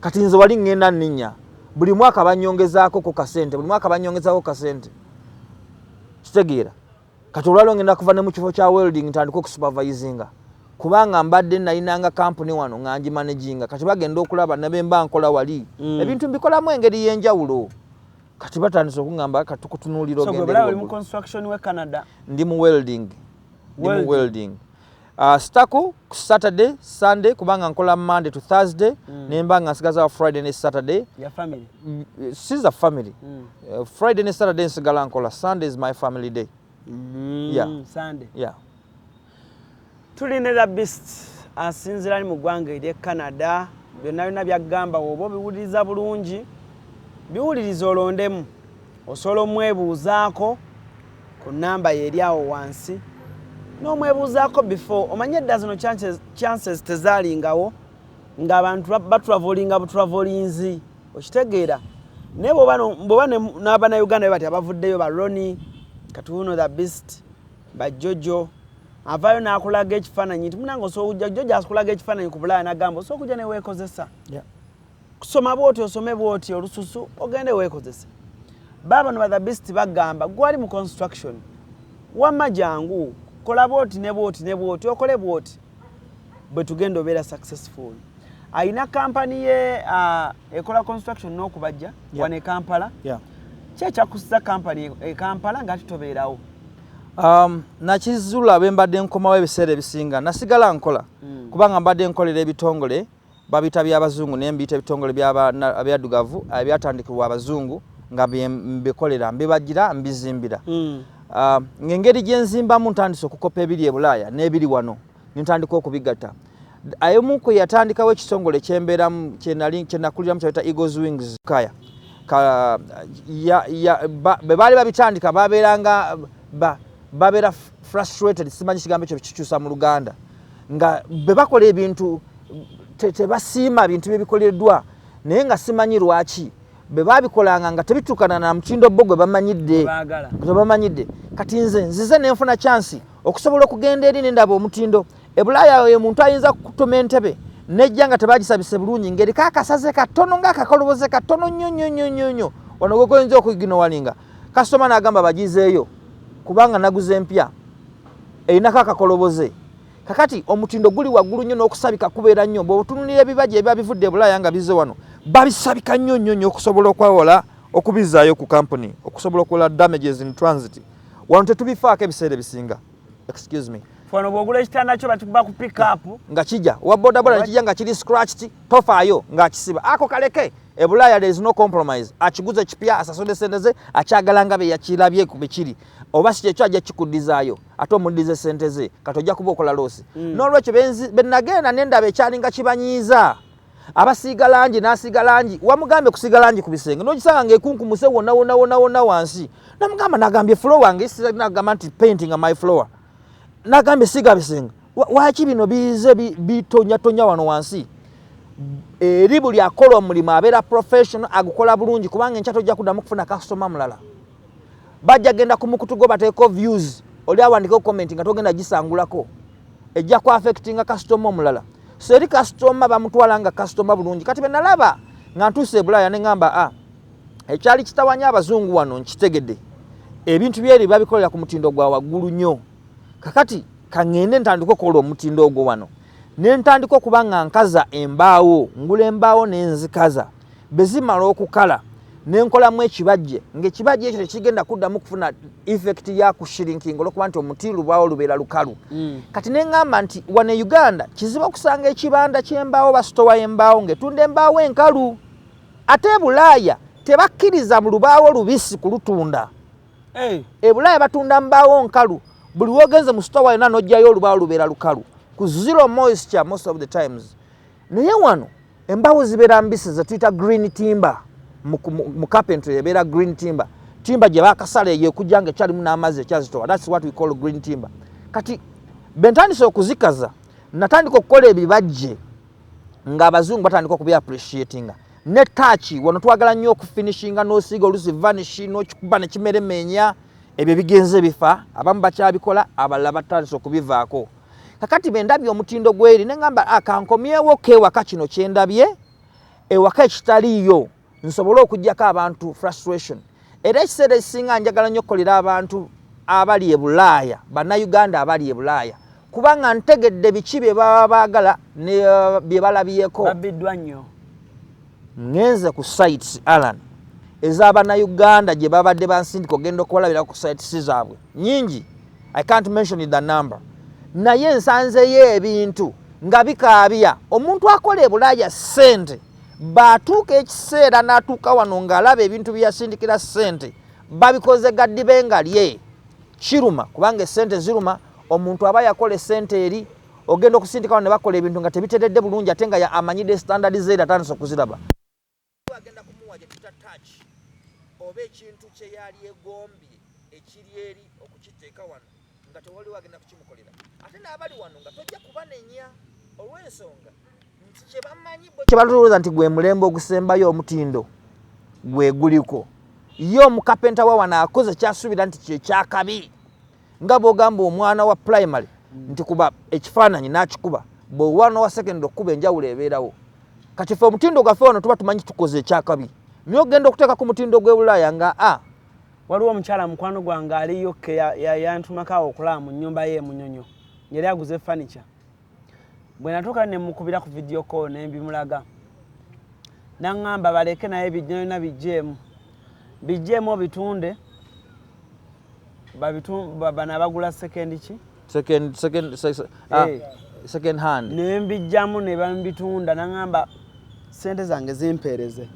kati nze wali ŋŋenda nninya buli mwaka banyongezaako ku kasente buli mwaka banyongezaako ku kasente kitegeera kati olwaliro ngenda kuva ne mu kifo kya welding ntandika okusupervisinga kubanga mbadde nalinanga kampuni wano nga ngimanaginga kati bagenda okulaba nebemba nkola wali mm. ebintu mbikolamu engeri yenjawulo kati batandise okuŋamba kati tukutunuulira ogendendi mu welding, welding. Uh, sitako ku saturday sunday kubanga nkola monday to thursday mm. nemba nga nsigaza wa friday ne saturday ya family mm, eh, siza family mm. uh, friday ne saturday nsigala nkola sunday is my family day mm. yeah. sunday yeah. tuli ne the best asinzira ali mu ggwanga erye canada byonna byonna byagamba woba obiwuliriza bulungi biwuliriza olondemu Osobola omwebuuzaako ku nnamba ye eri awo wansi n'omwebuuzaako before omanye edda zino chances tezaalingawo ng'abantu batravoolinga butravoolinzi okitegeera naye bwoba n'abanauganda be bati abavuddeyo ba roni katuuno the best bajojo avaayo n'akulaga ekifaananyi nti munange osobola okujja jojo akulaga ekifaananyi ku bulaaya n'agamba osobola okujja neweekozesa kusoma bwoti osome bwoti olususu ogende wekozese baba no the best bagamba gwali mu construction wamma jangu kola bwoti ne bwoti ne bwoti okole bwoti bwe tugenda obeera successful alina kampani ye uh, ekola construction n'okubajja yeah. wane kampala yeah. ki ekyakusiza kampani e kampala nga titobeerawo um, nakizula bwe mbadde nkomawo ebiseera ebisinga nasigala nkola mm. kubanga mbadde nkolera ebitongole Babiyita by'Abazungu naye mbiyita ebitongole by'Abaddugavu ebyatandikibwa Abazungu nga mbikolera mbibagira mbizimbira hmm. ah, ng'engeri gye nzimbamu ntandise okukopa ebiri e bulaaya n'ebiri wano ne ntandika okubigatta ayomu kwe yatandikawo ekitongole kyembeeramu kyenakuliramu kyayita eagles wings kaya be baali babitandika babeeranga babeera frustrated simanyi kigambo ekyo kikyusa mu luganda nga bwe bakola ebintu tebasiima bintu bye bikoleddwa naye nga simanyi lwaki bwe babikolanga nga tebituukana na mutindo bo gwe bamanyidde gwe bamanyidde kati nze nzize ne nfuna kyansi okusobola okugenda eri nendaba omutindo ebulaaya oyo omuntu ayinza kukutuma entebe nejja nga tebagisabise bulungi ngaeriko akasaze katono ngaakakoloboze katono nnyo nnyo nnyo nnyo nnyo wano gwegoyinza okuginowalinga kasitoma naagamba bagizeeyo kubanga naguze empya erinako akakoloboze kakati omutindo guli waggulu nnyo n'okusabika kubeera nnyo bweotunulira ebibaja ebiba bivudde ebulaaya nga bize wano babisabika nnyo nnyo nnyo okusobola okwewola okubizaayo ku kampuni okusobola okuwola damages in transit wano tetubifaako ebiseera ebisinga excuse me fano bwogula ekitanda kyo bakikuba ku pickupu nga kija owa bodaboda nekija nga kiri scratched tofaayo ng'akisiba ako kaleke ebulaaya there is no compromise akiguze kipya asasode sente ze akyagala nga beyakirabye ku bikiri oba si kyekyo ajja kikuddizaayo ate omuddize sente ze kati ojja kuba okola loosi mm. n'olwekyo benagenda nendaba ekyalinga kibanyiiza abasiiga langi n'asiiga langi wamugambye kusiiga langi ku bisenge n'ogisanga ngaekunkumuse wonna wonna wonna wonna wansi namugamba nagambye flow wange sinagamba nti painting my flower nagambye siiga bisenge waki bino bize bitonyatonya wano wansi eri buli akola omulimu abeera professional agukola bulungi kubanga enkyato ojja kuddamu kufuna kasitoma mulala bajja genda ku mukutu gwo bateeko views oli awandikeko comment nga togenda gisangulako ejja ku affectinga kasitoma omulala so eri kasitoma bamutwala nga kasitoma bulungi kati benalaba nga ntuuse ebulaaya ne ŋamba a ah, ekyali kitawanya abazungu wano nkitegede ebintu byeri babikolera ku mutindo gwa waggulu nnyo kakati kaŋende ntandika okukola omutindo ogwo wano ne ntandika okuba nga nkaza embaawo ngula embaawo nenzikaza bwe zimala okukala ne nkolamu ekibajje ng'ekibajje ekyo tekigenda kuddamu kufuna efekiti ya kushirinkinga olwokuba nti omuti lubaawo lubeera lukalu mm. kati ne ŋŋamba nti wano e uganda kizibu okusanga ekibanda ky'embaawo basitowa embaawo ng'etunda embaawo enkalu ate e bulaaya tebakkiriza mu lubaawo lubisi kulutunda eh. e bulaaya batunda mbaawo nkalu buli wogenze mu sitowa yona nojjayo olubaawo lubeera lukalu ku zero moisture most of the times naye wano embawo zibeera mbisi zetuyita green timber mu carpentry ebeera green timber timber gye bakasala eyo ekujja nga ekyalimu n'amazzi ekyazitowa thats what we call green timber kati bentandise okuzikaza natandika okukola ebibajje nga abazungu batandika okubi appreciatinga ne taaki wano twagala nnyo okufinishinga n'osiiga olusi vanishi n'okikuba ne kimeremenya ebyo bigenze bifa abamu bakyabikola abalala batandise okubivaako kakati bendabye omutindo gweri nengamba akankomyewo ah, kewaka kino kyendabye ewaka ekitaliiyo nsobole okujjako abantu frustration era ekiseera ekisinga njagala nnyo okukolera abantu abali e bulaaya bannayuganda abali e bulaaya kubanga ntegedde biki bye baba baagala ne uh, bye balabyeko babiddwa nnyo Ngenze ku sites Alan ez'abana Uganda gye babadde bansindika ogenda okubalabira ku sites zaabwe nyingi, I can't mention the number, naye nsanzeyo ebintu nga bikaabya omuntu akola ebulaaya ssente baatuuka ekiseera n'atuuka wano ng'alaba ebintu bye yasindikira ssente babikoze gaddibe nga lye kiruma kubanga essente ziruma omuntu aba yakola essente eri ogenda okusindikawo ne bakola ebintu nga tebiteredde bulungi ate nga amanyidde standard zeera atandisa okuziraba agenda kumuwa gye tuta touch oba ekintu kye yali egombye ekiri eri okukiteeka wano nga tewaliwo agenda kukimukolera ate n'abali wano nga tojja kubanenya olw'ensonga kyebalowooza nti gwe mulembe ogusembayo omutindo gwe guliko ye omukapenta wa wano akoze kyasuubira nti kyekyakabi nga bwogamba omwana wa primary nti kuba ekifaananyi n'akikuba bwewana wa secondary okukuba enjawulo ebeerawo kati fe omutindo gwaffe wano tuba tumanyi tukoze ekyakabi naye ogenda okuteeka ku mutindo gw'ebulaaya nga a waliwo omukyala mukwano gwange aliyokke yantumakaawo okulaba mu nnyumba ye emunyonyo yali aguze furniture bwe natuuka ne mukubira ku vidiyo kolo ne mbimulaga naŋŋamba baleke naye byonna bigyemu bigyemu obitunde bano abagula sekendi ki ah, eh. ne mbijjamu ne bambitunda naŋŋamba sente zange zimpeereze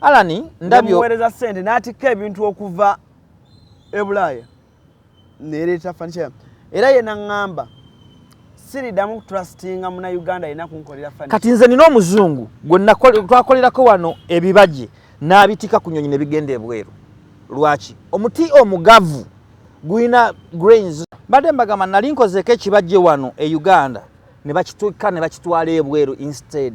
alani ndamuweereza sente n'atikka ebintu okuva e bulaaya nereeta fanisha era ye naŋŋamba siridamu kutrustinga muna uganda yena kunkolera fani kati nze nina omuzungu gwe twakolerako wano ebibaje n'abitika ku nyonyi ne bigenda ebweru lwaki omuti omugavu gulina grains mbadde mbagamba nali nkozeeko ekibajje wano e uganda ne bakituka ne bakitwala ebweru instead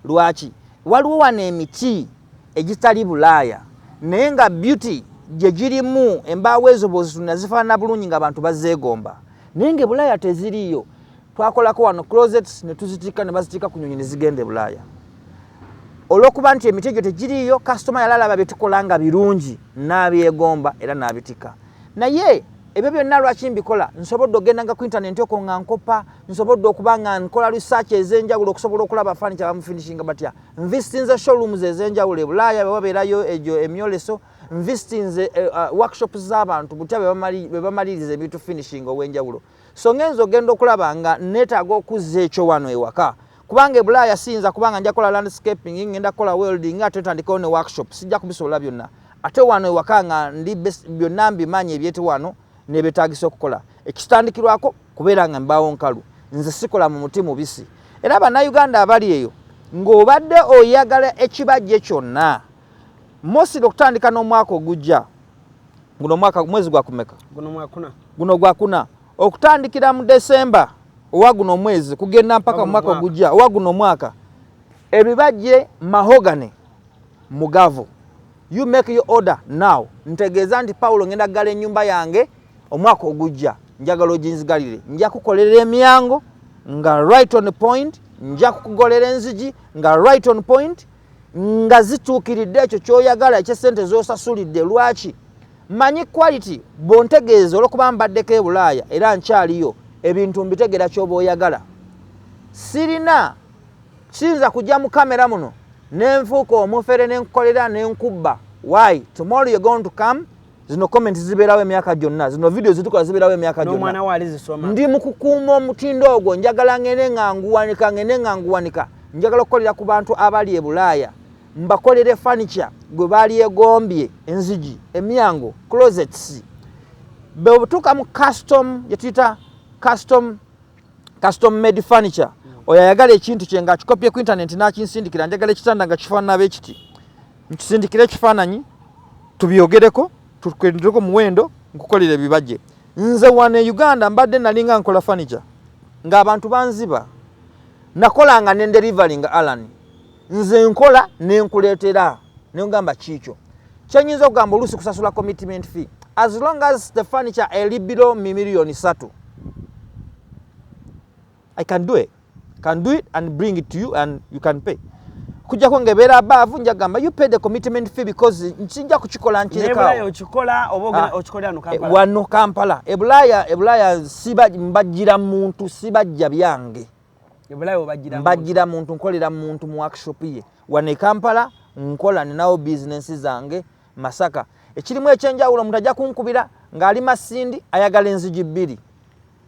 Lwaki? Waliwo wano emiti egitali bulaaya naye nga beauty gyegirimu embaawo ezo bwozitunda zifaanana bulungi nga abantu bazeegomba naye nga ebulaaya teziriiyo. Twakolako wano closets ne tuzitikka ne bazitikka ku nyonyi ne zigenda e bulaaya. Olw'okuba nti emiti egyo tegiriiyo, kasitoma yali alaba bye tukola nga birungi n'abyegomba era n'abitikka. Naye ebyo byonna lwaki mbikola nsobodde ogendanga ku intanenti oko nga nkopa nsobodde okuba nga nkola research ezenjawulo okusobola okulaba fani kyabamufinishinga batya nvistinze showrooms ezenjawulo ebulaaya bewabeerayo egyo emyoleso nvistinze uh, eh, ah, workshops z'abantu butya bebamaliriza ebintu finishinga owenjawulo so ngenza ogenda okulaba nga netaaga okuzza ekyo wano ewaka kubanga ebulaaya siyinza kubanga nja kukola landscaping ngenda kukola welding nga ate ntandikawo ne workshop sijja kubisobola byonna ate wano ewaka nga ndi byonna mbimaanyi ebyete wano nebetagisa okukola ekitandikirwako kubeera nga mbaawo nkalu nze sikola mu muti mubisi era bannayuganda abali eyo ng'obadde oyagala ekibajje kyonna mosiri okutandika n'omwaka ogujja guno omwaka mwezi gwakumeka guno gwakuna okutandikira mu December owa guno omwezi kugenda mpaka mu mwaka ogujja owa guno omwaka ebibajje mahogany mugavu you make your order now ntegeeza nti pawulo ngenda kugala ennyumba yange omwaka ogujja njagala oginzigalire nja kukolera emyango nga right on point nja kukugolera enzigi nga right on point nga zituukiridde ekyo kyoyagala ekyesente zosasulidde lwaki manyi quality bontegeeza olwokuba mbaddeko ebulaaya era nkyaliyo ebintu mbitegera kyoba oyagala sirina kiyinza kujja mu kamera muno nenfuuka omufere nenkukolera nenkubba why tomorrow you're going to come zino comment ziberawo emyaka gyonna zino video zitukola ziberawo emyaka gyonna ndi mukukuuma omutindo ogwo njagala ngende nga nguwanika ngende nga nguwanika njagala okukolera ku bantu abali e bulaaya mbakolere furniture gwe baali egombye enzigi emyango closets bwebutuuka mu custom gyetuyita custom custom made furniture oyo ayagala ekintu kye nga akikopye ku intaneti n'akinsindikira njagala ekitanda nga kifaanana be kiti nkisindikire ekifaananyi tubyogereko tukwendireko omuwendo nkukolera ebibajje nze wano e uganda mbadde nalinga nkola furniture ng'abantu banziba nakolanga ne delivery nga alani nze nkola nenkuleetera nengamba kiikyo kyenyinza okugamba oluusi kusasula commitment fee as long as the furniture eli below mi million satu i can do it can do it and bring it to you and you can pay kujjako ngaebeera abaavu nja kugamba you pay the commitment fee because nkinja kukikola nkirekaowano ah. eh, kampala ebulaaya ebulaaya mbajjira muntu sibajja byange mbajjira muntu nkolera muntu mu workshop ye wano ekampala nkola ninawo bizinensi zange masaka ekirimu ekyenjawulo omuntu ajja kunkubira ng'ali masindi ayagala enzigi bbiri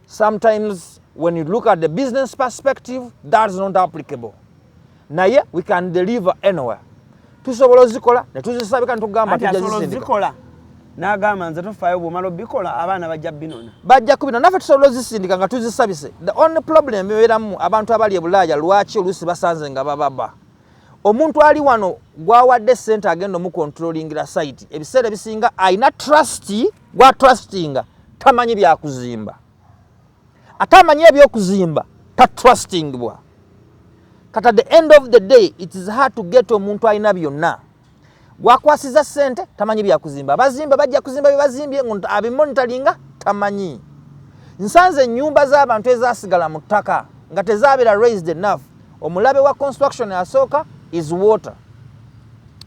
sometimes when you look at the business perspective that's not applicable naye we can deliver anywhere tusobola ozikola netuzisabika netugamba tujazisindika nagamba nze tofaayo bwomala obikola abaana bajja binona bajja kubinona naffe tusobola ozisindika nga tuzisabise the only problem ebeeramu abantu abali ebulaaya lwaki oluusi basanze nga bababa omuntu ali wano gwawadde sente agenda omukontrolingira site ebiseera ebisinga alina trust gwa trustinga tamanyi byakuzimba ate amanyi ebyokuzimba tatrustingbwa kata the end of the day it is hard to get omuntu alina byonna gwakwasiza sente tamanyi byakuzimba abazimba bajja kuzimba byebazimbye abimonitalinga tamanyi nsanze enyumba z'abantu ezasigala mu ttaka nga tezabeera raised enough omulabe wa construction asooka is water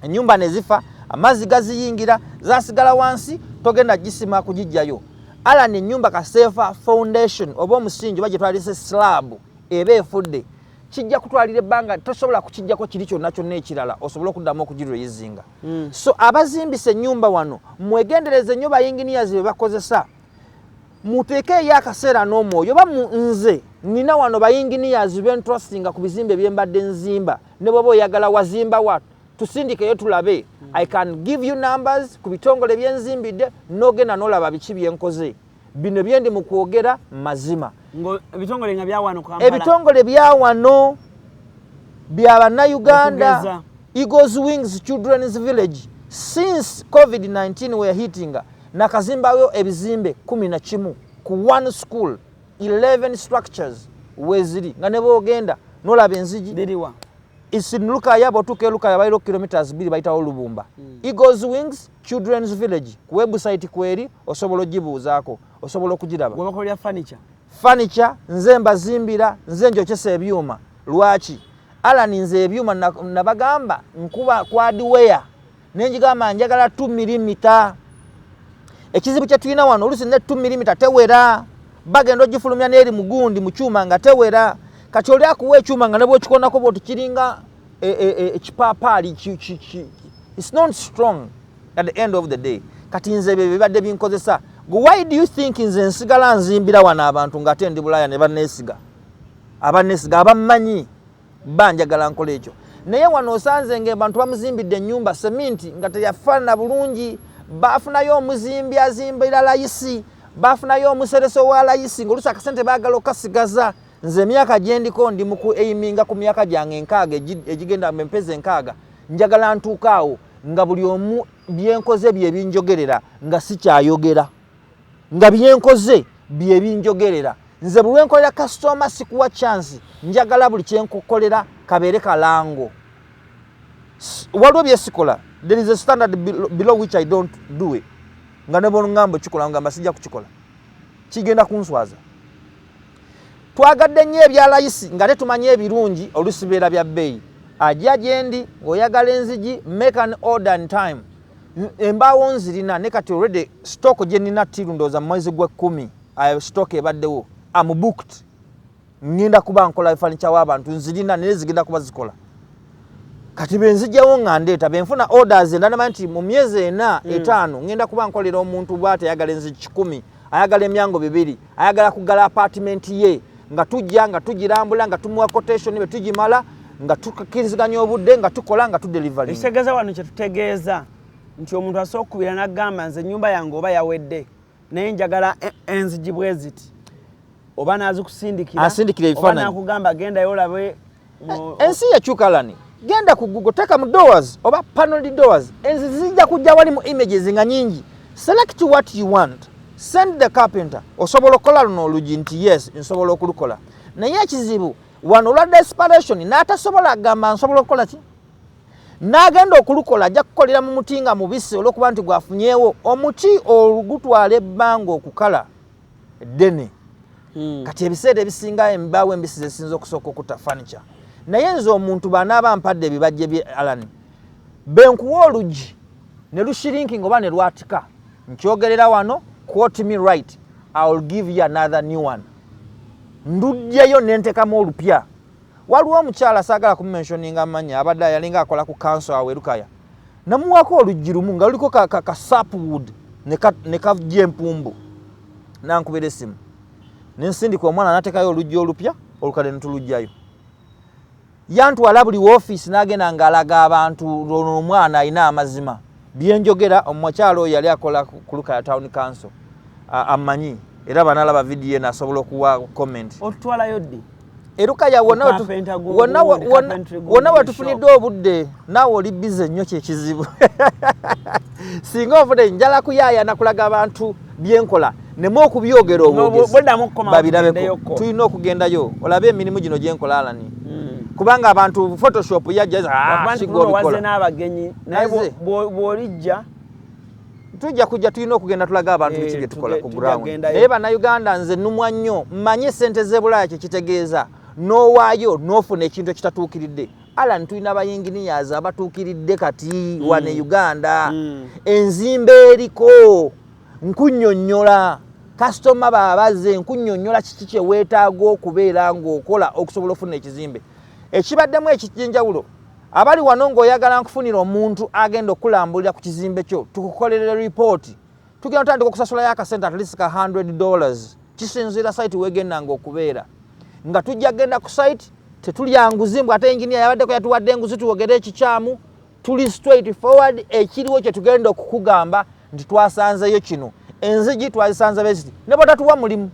enyumba nezifa amazzi gaziyingira zasigala wansi togenda gisima kugijjayo Alan ennyumba kaseefa foundation oba omusingi oba gyetwalisa esilaabu eba efudde kijja kutwalira ebbanga tosobola kukijjako kiri kyonna kyonna ekirala osobole okuddamu okugirweyizinga hmm. so abazimbisa ennyumba wano mwegendereze nnyo bayinginiyazi be bakozesa muteeke eyo akaseera n'omwoyo oba nze nina wano bayinginiyazi bentrusinga ku bizimba ebyembadde nzimba ne bwoba oyagala wazimba wa tusindikeyo tulabe mm. i can give you numbers ku bitongole byenzimbidde nogenda nolaba biki byenkoze bino byendi mu kwogera mazima ebitongole byawano bya bannayuganda eagles wings children's village since covid-19 were hitting nakazimbayo ebizimbe kumi na kimu ku one school 11 structures weziri nga nebwogenda nolaba enzigi isin lukaya botuka elukaya bairo kilometers biri baitawo lubumba mm. eagles wings children's village ku website kweri osobola ogibuuzaako osobola okugiraba webakolera furniture furniture nze mbazimbira nze njokyesa ebyuma lwaki alani nze ebyuma nabagamba nkuba kwadiweya nenjigamba njagala 2 milimita ekizibu kyetulina wano olusi ne 2 milimita tewera bagenda ogifulumya neeri mugundi mukyuma nga tewera kati oli akuwa ekyuma nga nebwokikonako bwoti kiringa e, e, e, ekipaapaali its not strong at the end of the day kati nze bye bibadde binkozesa go why do you think nze nsigala nzimbira wano abantu nga ate ndi bulaya ne banneesiga abanneesiga abammanyi Bba njagala nkola ekyo. Naye wano osanze nga abantu bamuzimbidde ennyumba seminti nga teyafaanana bulungi. Baafunayo omuzimbi azimbira layisi, baafunayo omuseresi owa layisi ng'oluusi akasente baagala okukasigaza. Nze emyaka gye ndiko ndi mu ku eiminga ku myaka gyange enkaaga egigenda mu empezi enkaaga. Njagala ntuuke awo nga buli omu bye nkoze bye binjogerera nga sikyayogera. nga byenkoze byebinjogerera nze bulwenkolera kasitoma sikuwa chansi njagala buli kyenkukolera kabeere kalango waliwo byesikola there is a standard below which i don't do it nga nebongambo kikola ngamba sijja kukikola kigenda kunswaza twagadde nnyo ebya layisi nga tetumanyi ebirungi olusibeera bya bbeeyi ajja gyendi ng'oyagala enzigi make an order and time embaawo nzirina ne kati already stock gye nina tiru ndowooza mu mwezi gw'ekkumi ayo stock ebaddewo am booked ngenda kuba nkola furniture w'abantu nzirina naye zigenda kuba zikola kati benzijjawo nga ndeeta benfuna orders endala manyi nti mu myezi ena hmm. etaano ngenda kuba nkolera omuntu bwateyagala enzi kikumi mm. ayagala emyango bibiri ayagala kugala apatimenti ye nga tujja nga tugirambula nga tumuwa quotation be tugimala nga tukiriziganya obudde nga tukola nga tudelivali ekitegeeza wano kyetutegeeza nti omuntu asobola okukubira nagamba nze enyumba yange oba yawedde naye njagala e, enzijibweziti oba nazikusindikira asindikira ebifaananyi oba nakugamba gendayo olabe eh, ensi yakyuka lani genda ku google teka mu doors oba paneled doors enzi zijja kujja wali mu images nga nyingi select what you want send the carpenter osobola okukola luno olugi nti yes nsobola okulukola naye ekizibu wano olwa desperation n'atasobola agamba nsobola okukola ki n'agenda okulukola ajja kukolera mu muti nga mubisi olwokuba nti gwafunyewo omuti olugutwala ebbanga okukala eddene hmm. kati ebiseera ebisinga embaawo embisi zesinza okusooka okutta furniture naye nze omuntu banaaba mpadde ebibajje bye alan benkuwa oluggi ne lushirinki ngaoba ne lwatika nkyogerera wano quote me right iwill give you another new one ndujjayo nentekamu olupya waliwo omukyala saagala kumumensioninga manya abadde yalinga akola ku kanso awerukaya namuwaako oluggi lumu nga luliko ka, ka, ka sapwood nekajja empumbu nankubira esimu nensindika omwana natekayo oluggi olupya olukadde netulugjayo yantwala buli wofiisi nagenda ngaalaga abantu ono omwana alina amazima byenjogera omukyalo oyo yali akola kulukaya town council amanyi era banalaba vidiyo nasobola okuwa comment otutwalayo ddi erukaya wonna wetufuniddwa obudde naawe oli bize nnyo kyekizibu singa ovude njala kuyaaya nakulaga abantu byenkola nemu okubyogera obwogezibabirabeko tulina okugendayo olabe emirimu gino gyenkola alani hmm. kubanga abantu photoshop yajjaza ah, bwolijja tujja kujja tulina okugenda tulaga abantu biki eh, bye tukola ku ground naye bannayuganda nze numwa nnyo manye sente z'ebulaaya kye kitegeeza n'owaayo n'ofuna ekintu ekitatuukiridde alan tulina bayinginiyazi abatuukiridde kati mm. wane hmm. uganda mm. enzimba eriko nkunyonyola kasitoma babaze nkunyonyola kiki kyeweetaaga okubeera ng'okola okusobola ofuna ekizimbe ekibaddemu ekijenjawulo Abali wano ng'oyagala nkufunira omuntu agenda okulambulira ku kizimbe kyo tukukolerera ripooti tugenda otandika okusasulayo akasente atleast ka 100 dollars kisinziira site wegendanga okubeera nga tujja kugenda ku site tetulya nguzi mbw ate enginia yabaddeko yatuwadde enguzi tuwogere ekikyamu tuli straight forward ekiriwo kyetugenda okukugamba nti twasanzeyo kino enzigi twazisanza besti ne bwatatuwa mulimu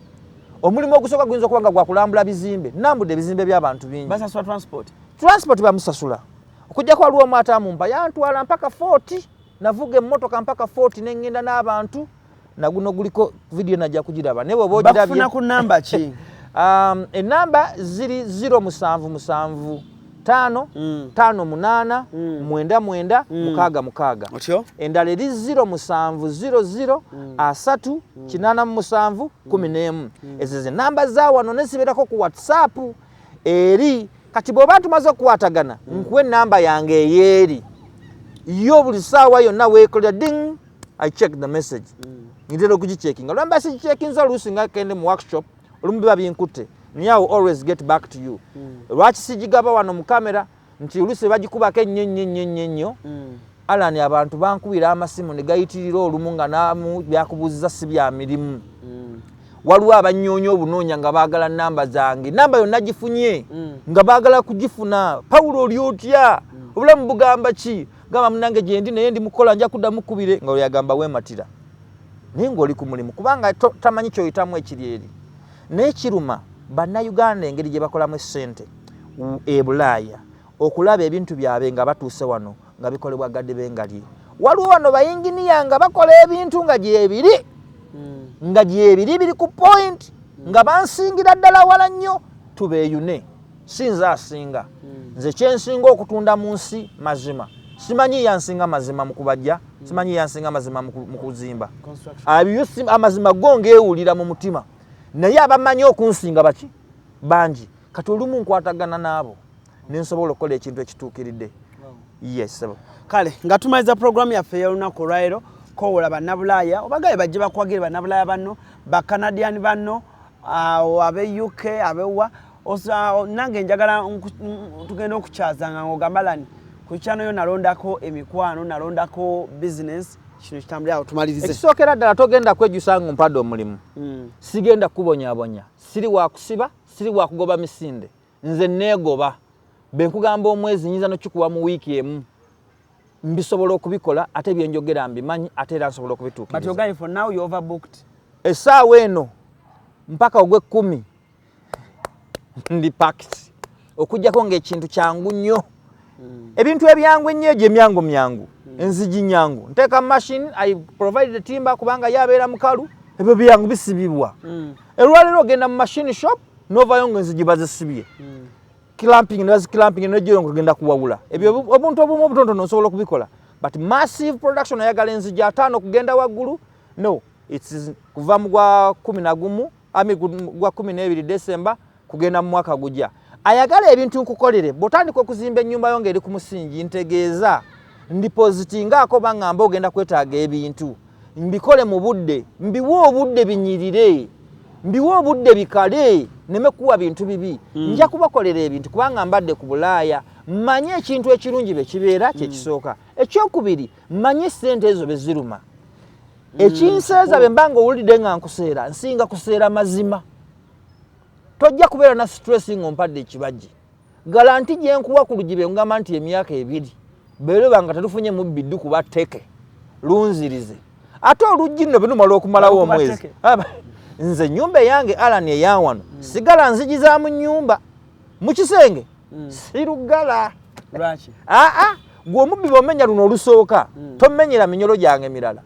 omulimu ogusooka guyinza okuba nga gwakulambula bizimbe nambudde ebizimbe by'abantu bingi basasula transport transport bamusasula okujjako waliwo omu ate amumpa yantwala mpaka 40 navuga emmotoka mpaka 40 ne ŋŋenda n'abantu naguno guliko vidiyo najja kugiraba naye bwoba ogirabye ku namba ki um, enamba ziri 0 musanvu musanvu tano mm. tano munana mm. mwenda mwenda mm. mukaga mukaga Otyo? endala eri ziro musanvu ziro ziro mm. asatu mm. kinana musanvu mm. kumi nemu mm. ezo ze namba za wano nesiberako ku whatsapp eri kati bwoba tumaze okukwatagana mm. nkuwa enamba yange eyeeri yo buli saawa yonna weekolera ding i check the message mm. ngitera okugicekinga lwamba sigicekinza oluusi nga kende mu workshop mm. olumu biba binkutte naye awo always get back to you mm. lwaki sigigaba wano mu kamera nti olusi bagikubako ennyo nnyo nnyo nnyo nnyo mm. alani abantu bankubira amasimu ne gayitirira olumu nga namu byakubuuziza si bya mirimu mm. waliwo abanyoonya obunoonya nga baagala namba zange namba yonna gifunye mm. nga baagala kugifuna pawulo oli otya mm. obulamu bugamba ki gamba munange gyendi naye ndi mukola nja kuddamu kubire nga weyagamba wematira naye ng'oli ku mulimu kubanga tamanyi kyoyitamu ekiri eri naye kiruma bannayuganda engeri gye bakolamu essente e bulaaya okulaba ebintu byabwe nga batuuse wano nga bikolebwa gadi bengalye waliwo wano bayinginiya nga bakola ebintu nga gyebiri hmm. nga gyebiri biri ku point hmm. nga bansingira ddala wala nnyo tubeyune si nze asinga hmm. nze kyensinga okutunda mu nsi mazima simanyi yansinga mazima mukubajja hmm. simanyi yansinga mazima mukuzimba amazima go ngewulira mu mutima naye abamanyi okunsinga baki bangi kati olumu nkwatagana naabo nensobola okukola ekintu ekituukiridde yes kale nga tumaliza puroguramu yaffe eyolunaku olwalero kowola bannabulaaya obagaye bajje bakwagire bannabulaaya banno bakanadian banno awo ah, abe uk abewa nange njagala tugenda okukyazanga ngaogamalani ku kyano yo nalondako emikwano nalondako bisinesi kino kitambulira awo tumalirize ekisookera ddala togenda kwejusa nga ompadde omulimu hmm. sigenda kukubonyabonya siri wakusiba siri wakugoba misinde nze neegoba be nkugamba omwezi nyinza nokikuwa mu wiiki emu mbisobola okubikola ate byenjogera mbimanyi ate era nsobola okubituukirizaoverbooked essaawa eno mpaka ogw'ekkumi ndi pakiti okujjako ng'ekintu kyangu nnyo mm. ebintu ebyangu ennyo egyo emyangu myangu mm. enzigi nyangu nteeka machine i provide the timber kubanga ye abeera mukalu ebyo byangu bisibibwa mm. olwaleero ogenda mu machine shop novayo nga enzigi bazisibye mm. clamping ne baziclamping nejoyo nga ogenda kuwawula ebyo mm. obuntu obumu obutontono osobola okubikola but massive production ayagala enzigi ataano okugenda waggulu no its kuva mu gwa kumi na gumu ami gwa kumi n'ebiri december kugenda mu mwaka gugya ayagala ebintu nkukolere bwotandika okuzimba ennyumba yo ngaeri ku musingi ntegeeza ndipozitingaako oba ngamba ogenda kwetaaga ebintu mbikole mu budde mbiwe obudde binyirire mbiwe obudde bikale neme kuwa bintu bibi hmm. nja kubakolera ebintu kubanga mbadde ku bulaaya manye ekintu ekirungi bekibeera hmm. kyekisooka ekyokubiri manye sente ezo beziruma hmm. ekinseeza bemba nga owulidde nga nkuseera nsinga kuseera mazima tojja kubeera na stress nga ompadde ekibajje galanti gyenkuwa ku lugibe ngamba nti emyaka ebiri beereba nga tetufunye mubbi ddu kuba teke lunzirize ate oluggi nno benumala okumalawo omwezi nze enyumba eyange alani eyawano hmm. sigala nzigi za mu nyumba mu kisenge hmm. sirugala aa gwe omubbi bomenya luno olusooka hmm. tomenyera minyolo gyange mirala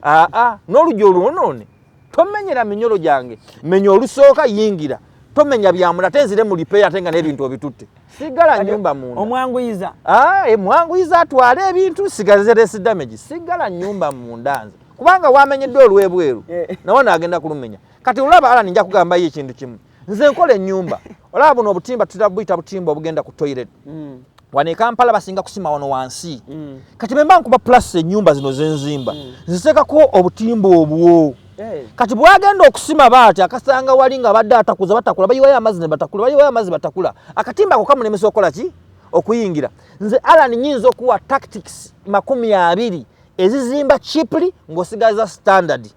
aa n'oluggi olwonoone tomenyera minyolo gyange menya olusooka yingira tomenya byamula ate nzire mu lipeeya ate nga n'ebintu obitutte sigala nyumba munda omwanguyiza ah, eh, mwanguyiza atwale ebintu sigaze resi damage sigala nyumba munda nze kubanga wamenyedde olwebweru eh. nawe naagenda kulumenya kati olaba alani nja kugambayo ekintu kimu nze nkola enyumba olaba buno obutimba tutera buyita butimba obugenda ku toilet mm. wano ekampala basinga kusima wano wansi mm. kati bemba nkuba plus enyumba zino zenzimba mm. nzitekako obutimba obwo eh. kati bwagenda okusima baati akasanga wali nga badde atakuza batakula bayiwayo amazzi nebatakula bayiwayo amazzi batakula akatimba ako kamulemesa okola ki okuyingira nze alan nyinza okuwa tactics makumi abiri ezizimba chiply ngosigaza standard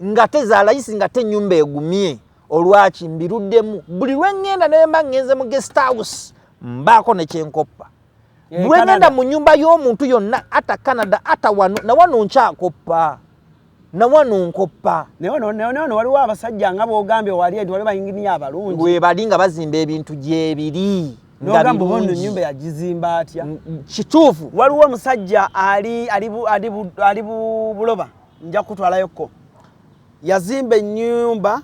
ngate zalayisi ngate enyumba egumye olwaki mbiruddemu buli lwengenda nemba ngenze mu guest house mbaako nekyenkoppa eh, lwengenda mu nyumba y'omuntu yonna ata canada ata wano nawano nkyakoppa nawano nkoppa nawano waliwo abasajja nga bogambye wali eti waliwo bayinginiya abalungi webali nga bazimba ebintu gyebiri nyumba yagizimba atya kituufu waliwo omusajja ali buloba nja kutwalayo ko yazimba enyumba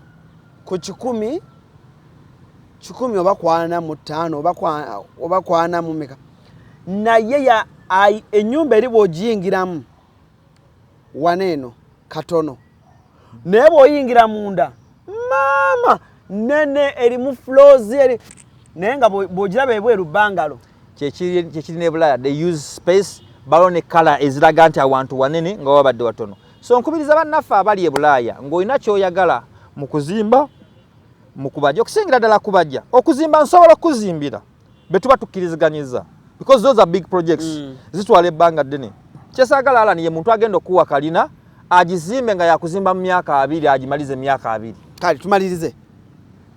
ku kikumi kikumi oba kwana mu ttaano oba kwana mu meka naye ya enyumba eri bwogiyingiramu wana eno katono naye bwoyingira munda maama nene erimu flozi eri naye nga bwogiraba ebweru bangalo kyekiri nebulaya they use space balo ne kala eziraga nti awantu wanene nga wabadde watono so nkubiriza bannaffe abali ebulaaya ng'olina kyoyagala mu kuzimba mu kubajja okusingira ddala kubajja okuzimba nsobola okukuzimbira be tuba tukkiriziganyiza because those are big projects mm. zitwala ebbanga ddene kyesaagala alani ye muntu agenda okukuwa kalina agizimbe nga yakuzimba mu myaka abiri agimalize emyaka abiri kale tumalirize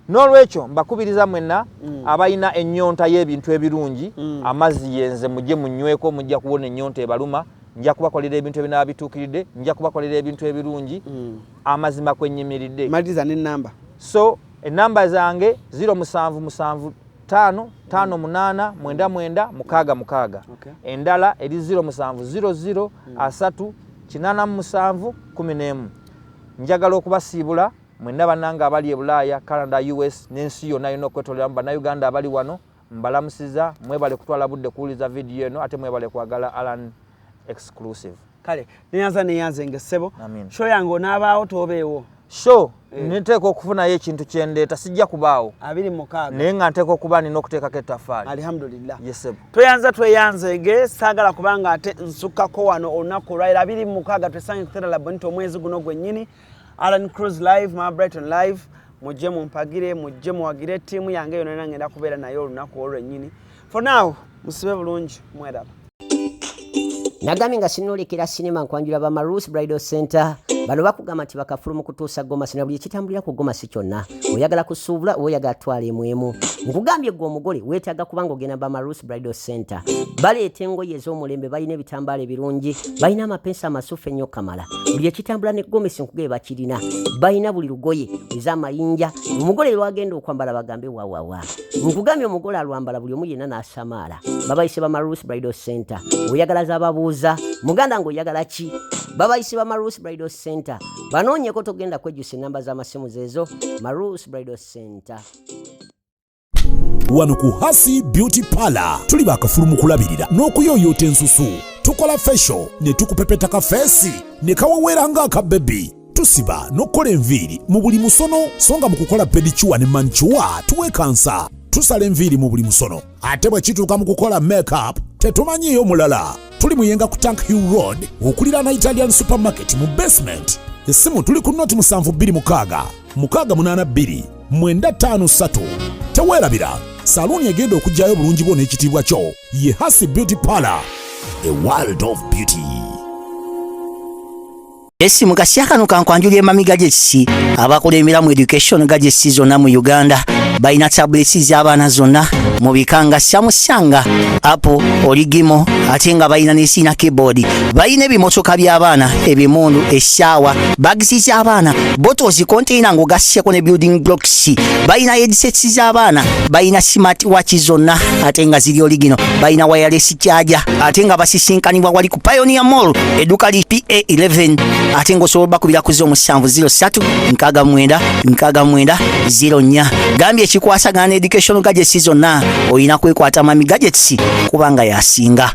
N'olwekyo mbakubiriza mwenna mm. abalina ennyonta y'ebintu ebirungi, mm. amazzi yenze mujje munyweko, mujja kuwona ennyonta ebaluma, nja kubakolera ebintu ebinaba bituukiridde, nja kubakolera ebintu ebirungi, mm. amazima kwe nnyimiridde. Maliriza n'ennamba. So ennamba zange ziro musanvu musanvu tano tano munana mwenda mwenda mukaga mukaga okay. endala eri ziro musanvu ziro ziro mm. asatu kinana musanvu kumi nemu njagala okubasiibula Mwenna banange abali ebulaaya, Canada, US nensi yona yona okwetoleramu banauganda abali wano mbalamusiza mwebale kutwala budde kuwuliza video eno ate mwebale kwagala Alan exclusive. Kale neyanza neyanze nge sebo. Show yange onabaawo tobeewo. Show eh. niteeka okufunayo ekintu kyendeeta sijja kubaawo abiri mukaaga naye nga nteeka okuba nina okuteekako ettafaali alhamdulillah yesebo tweyanza tweyanze ge saagala kubanga ate nsukako wano olunaku olwaliro abiri mukaaga twesange kuteralaboniti omwezi guno gwennyini Alan Cruz live ma Brighton live mujje mumpagire mujje muwagire ttiimu yange yona yona ngenda kubeera naye olunaku olwennyini for now musibe bulungi mweraba nagambye nga sinulikira sinema nkwanjula ba marus bridal center bano bakugamba nti bakafulu mu kutuusa gomasi na buli ekitambulira ku gomasi kyonna oyagala kusuubula oba oyagala twala emu emu nkugambye gwe omugole weetaaga kubanga ogenda bamarus bridal center baleeta engoye ez'omulembe balina ebitambaala ebirungi balina amapensi amasufu ennyo kamala buli ekitambula ne gomesi nkugaye bakirina balina buli lugoye ez'amayinja omugole lwagenda okwambala bagambe wawawa nkugambye omugole alwambala buli omu yenna n'asamaala babayise bamarus bridal center oyagala zababuuza muganda ng'oyagala ki babayise bamarus bridal center banoonyeko togenda kwejjusa enamba z'amasimu zeezo marus bridal center wano ku hasi beauty parlor tuli bakafulu mu kulabirira n'okuyooyoota ensusu tukola fesho ne tukupepeta kafeesi ne kaweweera ng'aka bebi tusiba n'okukola enviiri mu buli musono so nga mu kukola pedicuwa ne mancuwa tuwekansa tusala enviiri mu buli musono ate bwe kituuka mu kukola makeup tetumanyiiyo mulala tuli muyenga ku tank hill road okuliraana italian supermarket mu basement essimu tuli ku noti 72 68 953 teweerabira saluuni egenda okugyayo obulungi bwo n'ekitiibwa kyo ye hasi beauty parlor a world of beauty Esi mukasya kano kankwanjula emamiga gy'ekisi abakulembera mu education ga gy'ekisi zonna mu Uganda balina tablets z'abaana zonna mu bika nga Samsung, Apple, Oligimo ate nga balina n'esiina keyboard. Balina ebimotoka by'abaana, ebimundu, essaawa, bags z'abaana, bottles, container ng'ogasseko ne building blocks. Balina headsets z'abaana, balina smart watch zonna ate nga ziri oligino, balina wireless charger. ate nga basisinkanibwa wali ku Pioneer Mall edduuka li PA11 ate ng'osobola obakubira ku z'omusanvu 07 nkaaga mwenda nkaaga mwenda 04 gambye ekikwasagana ne education gadgets zonna olina kwekwata mami gadgets kubanga yasinga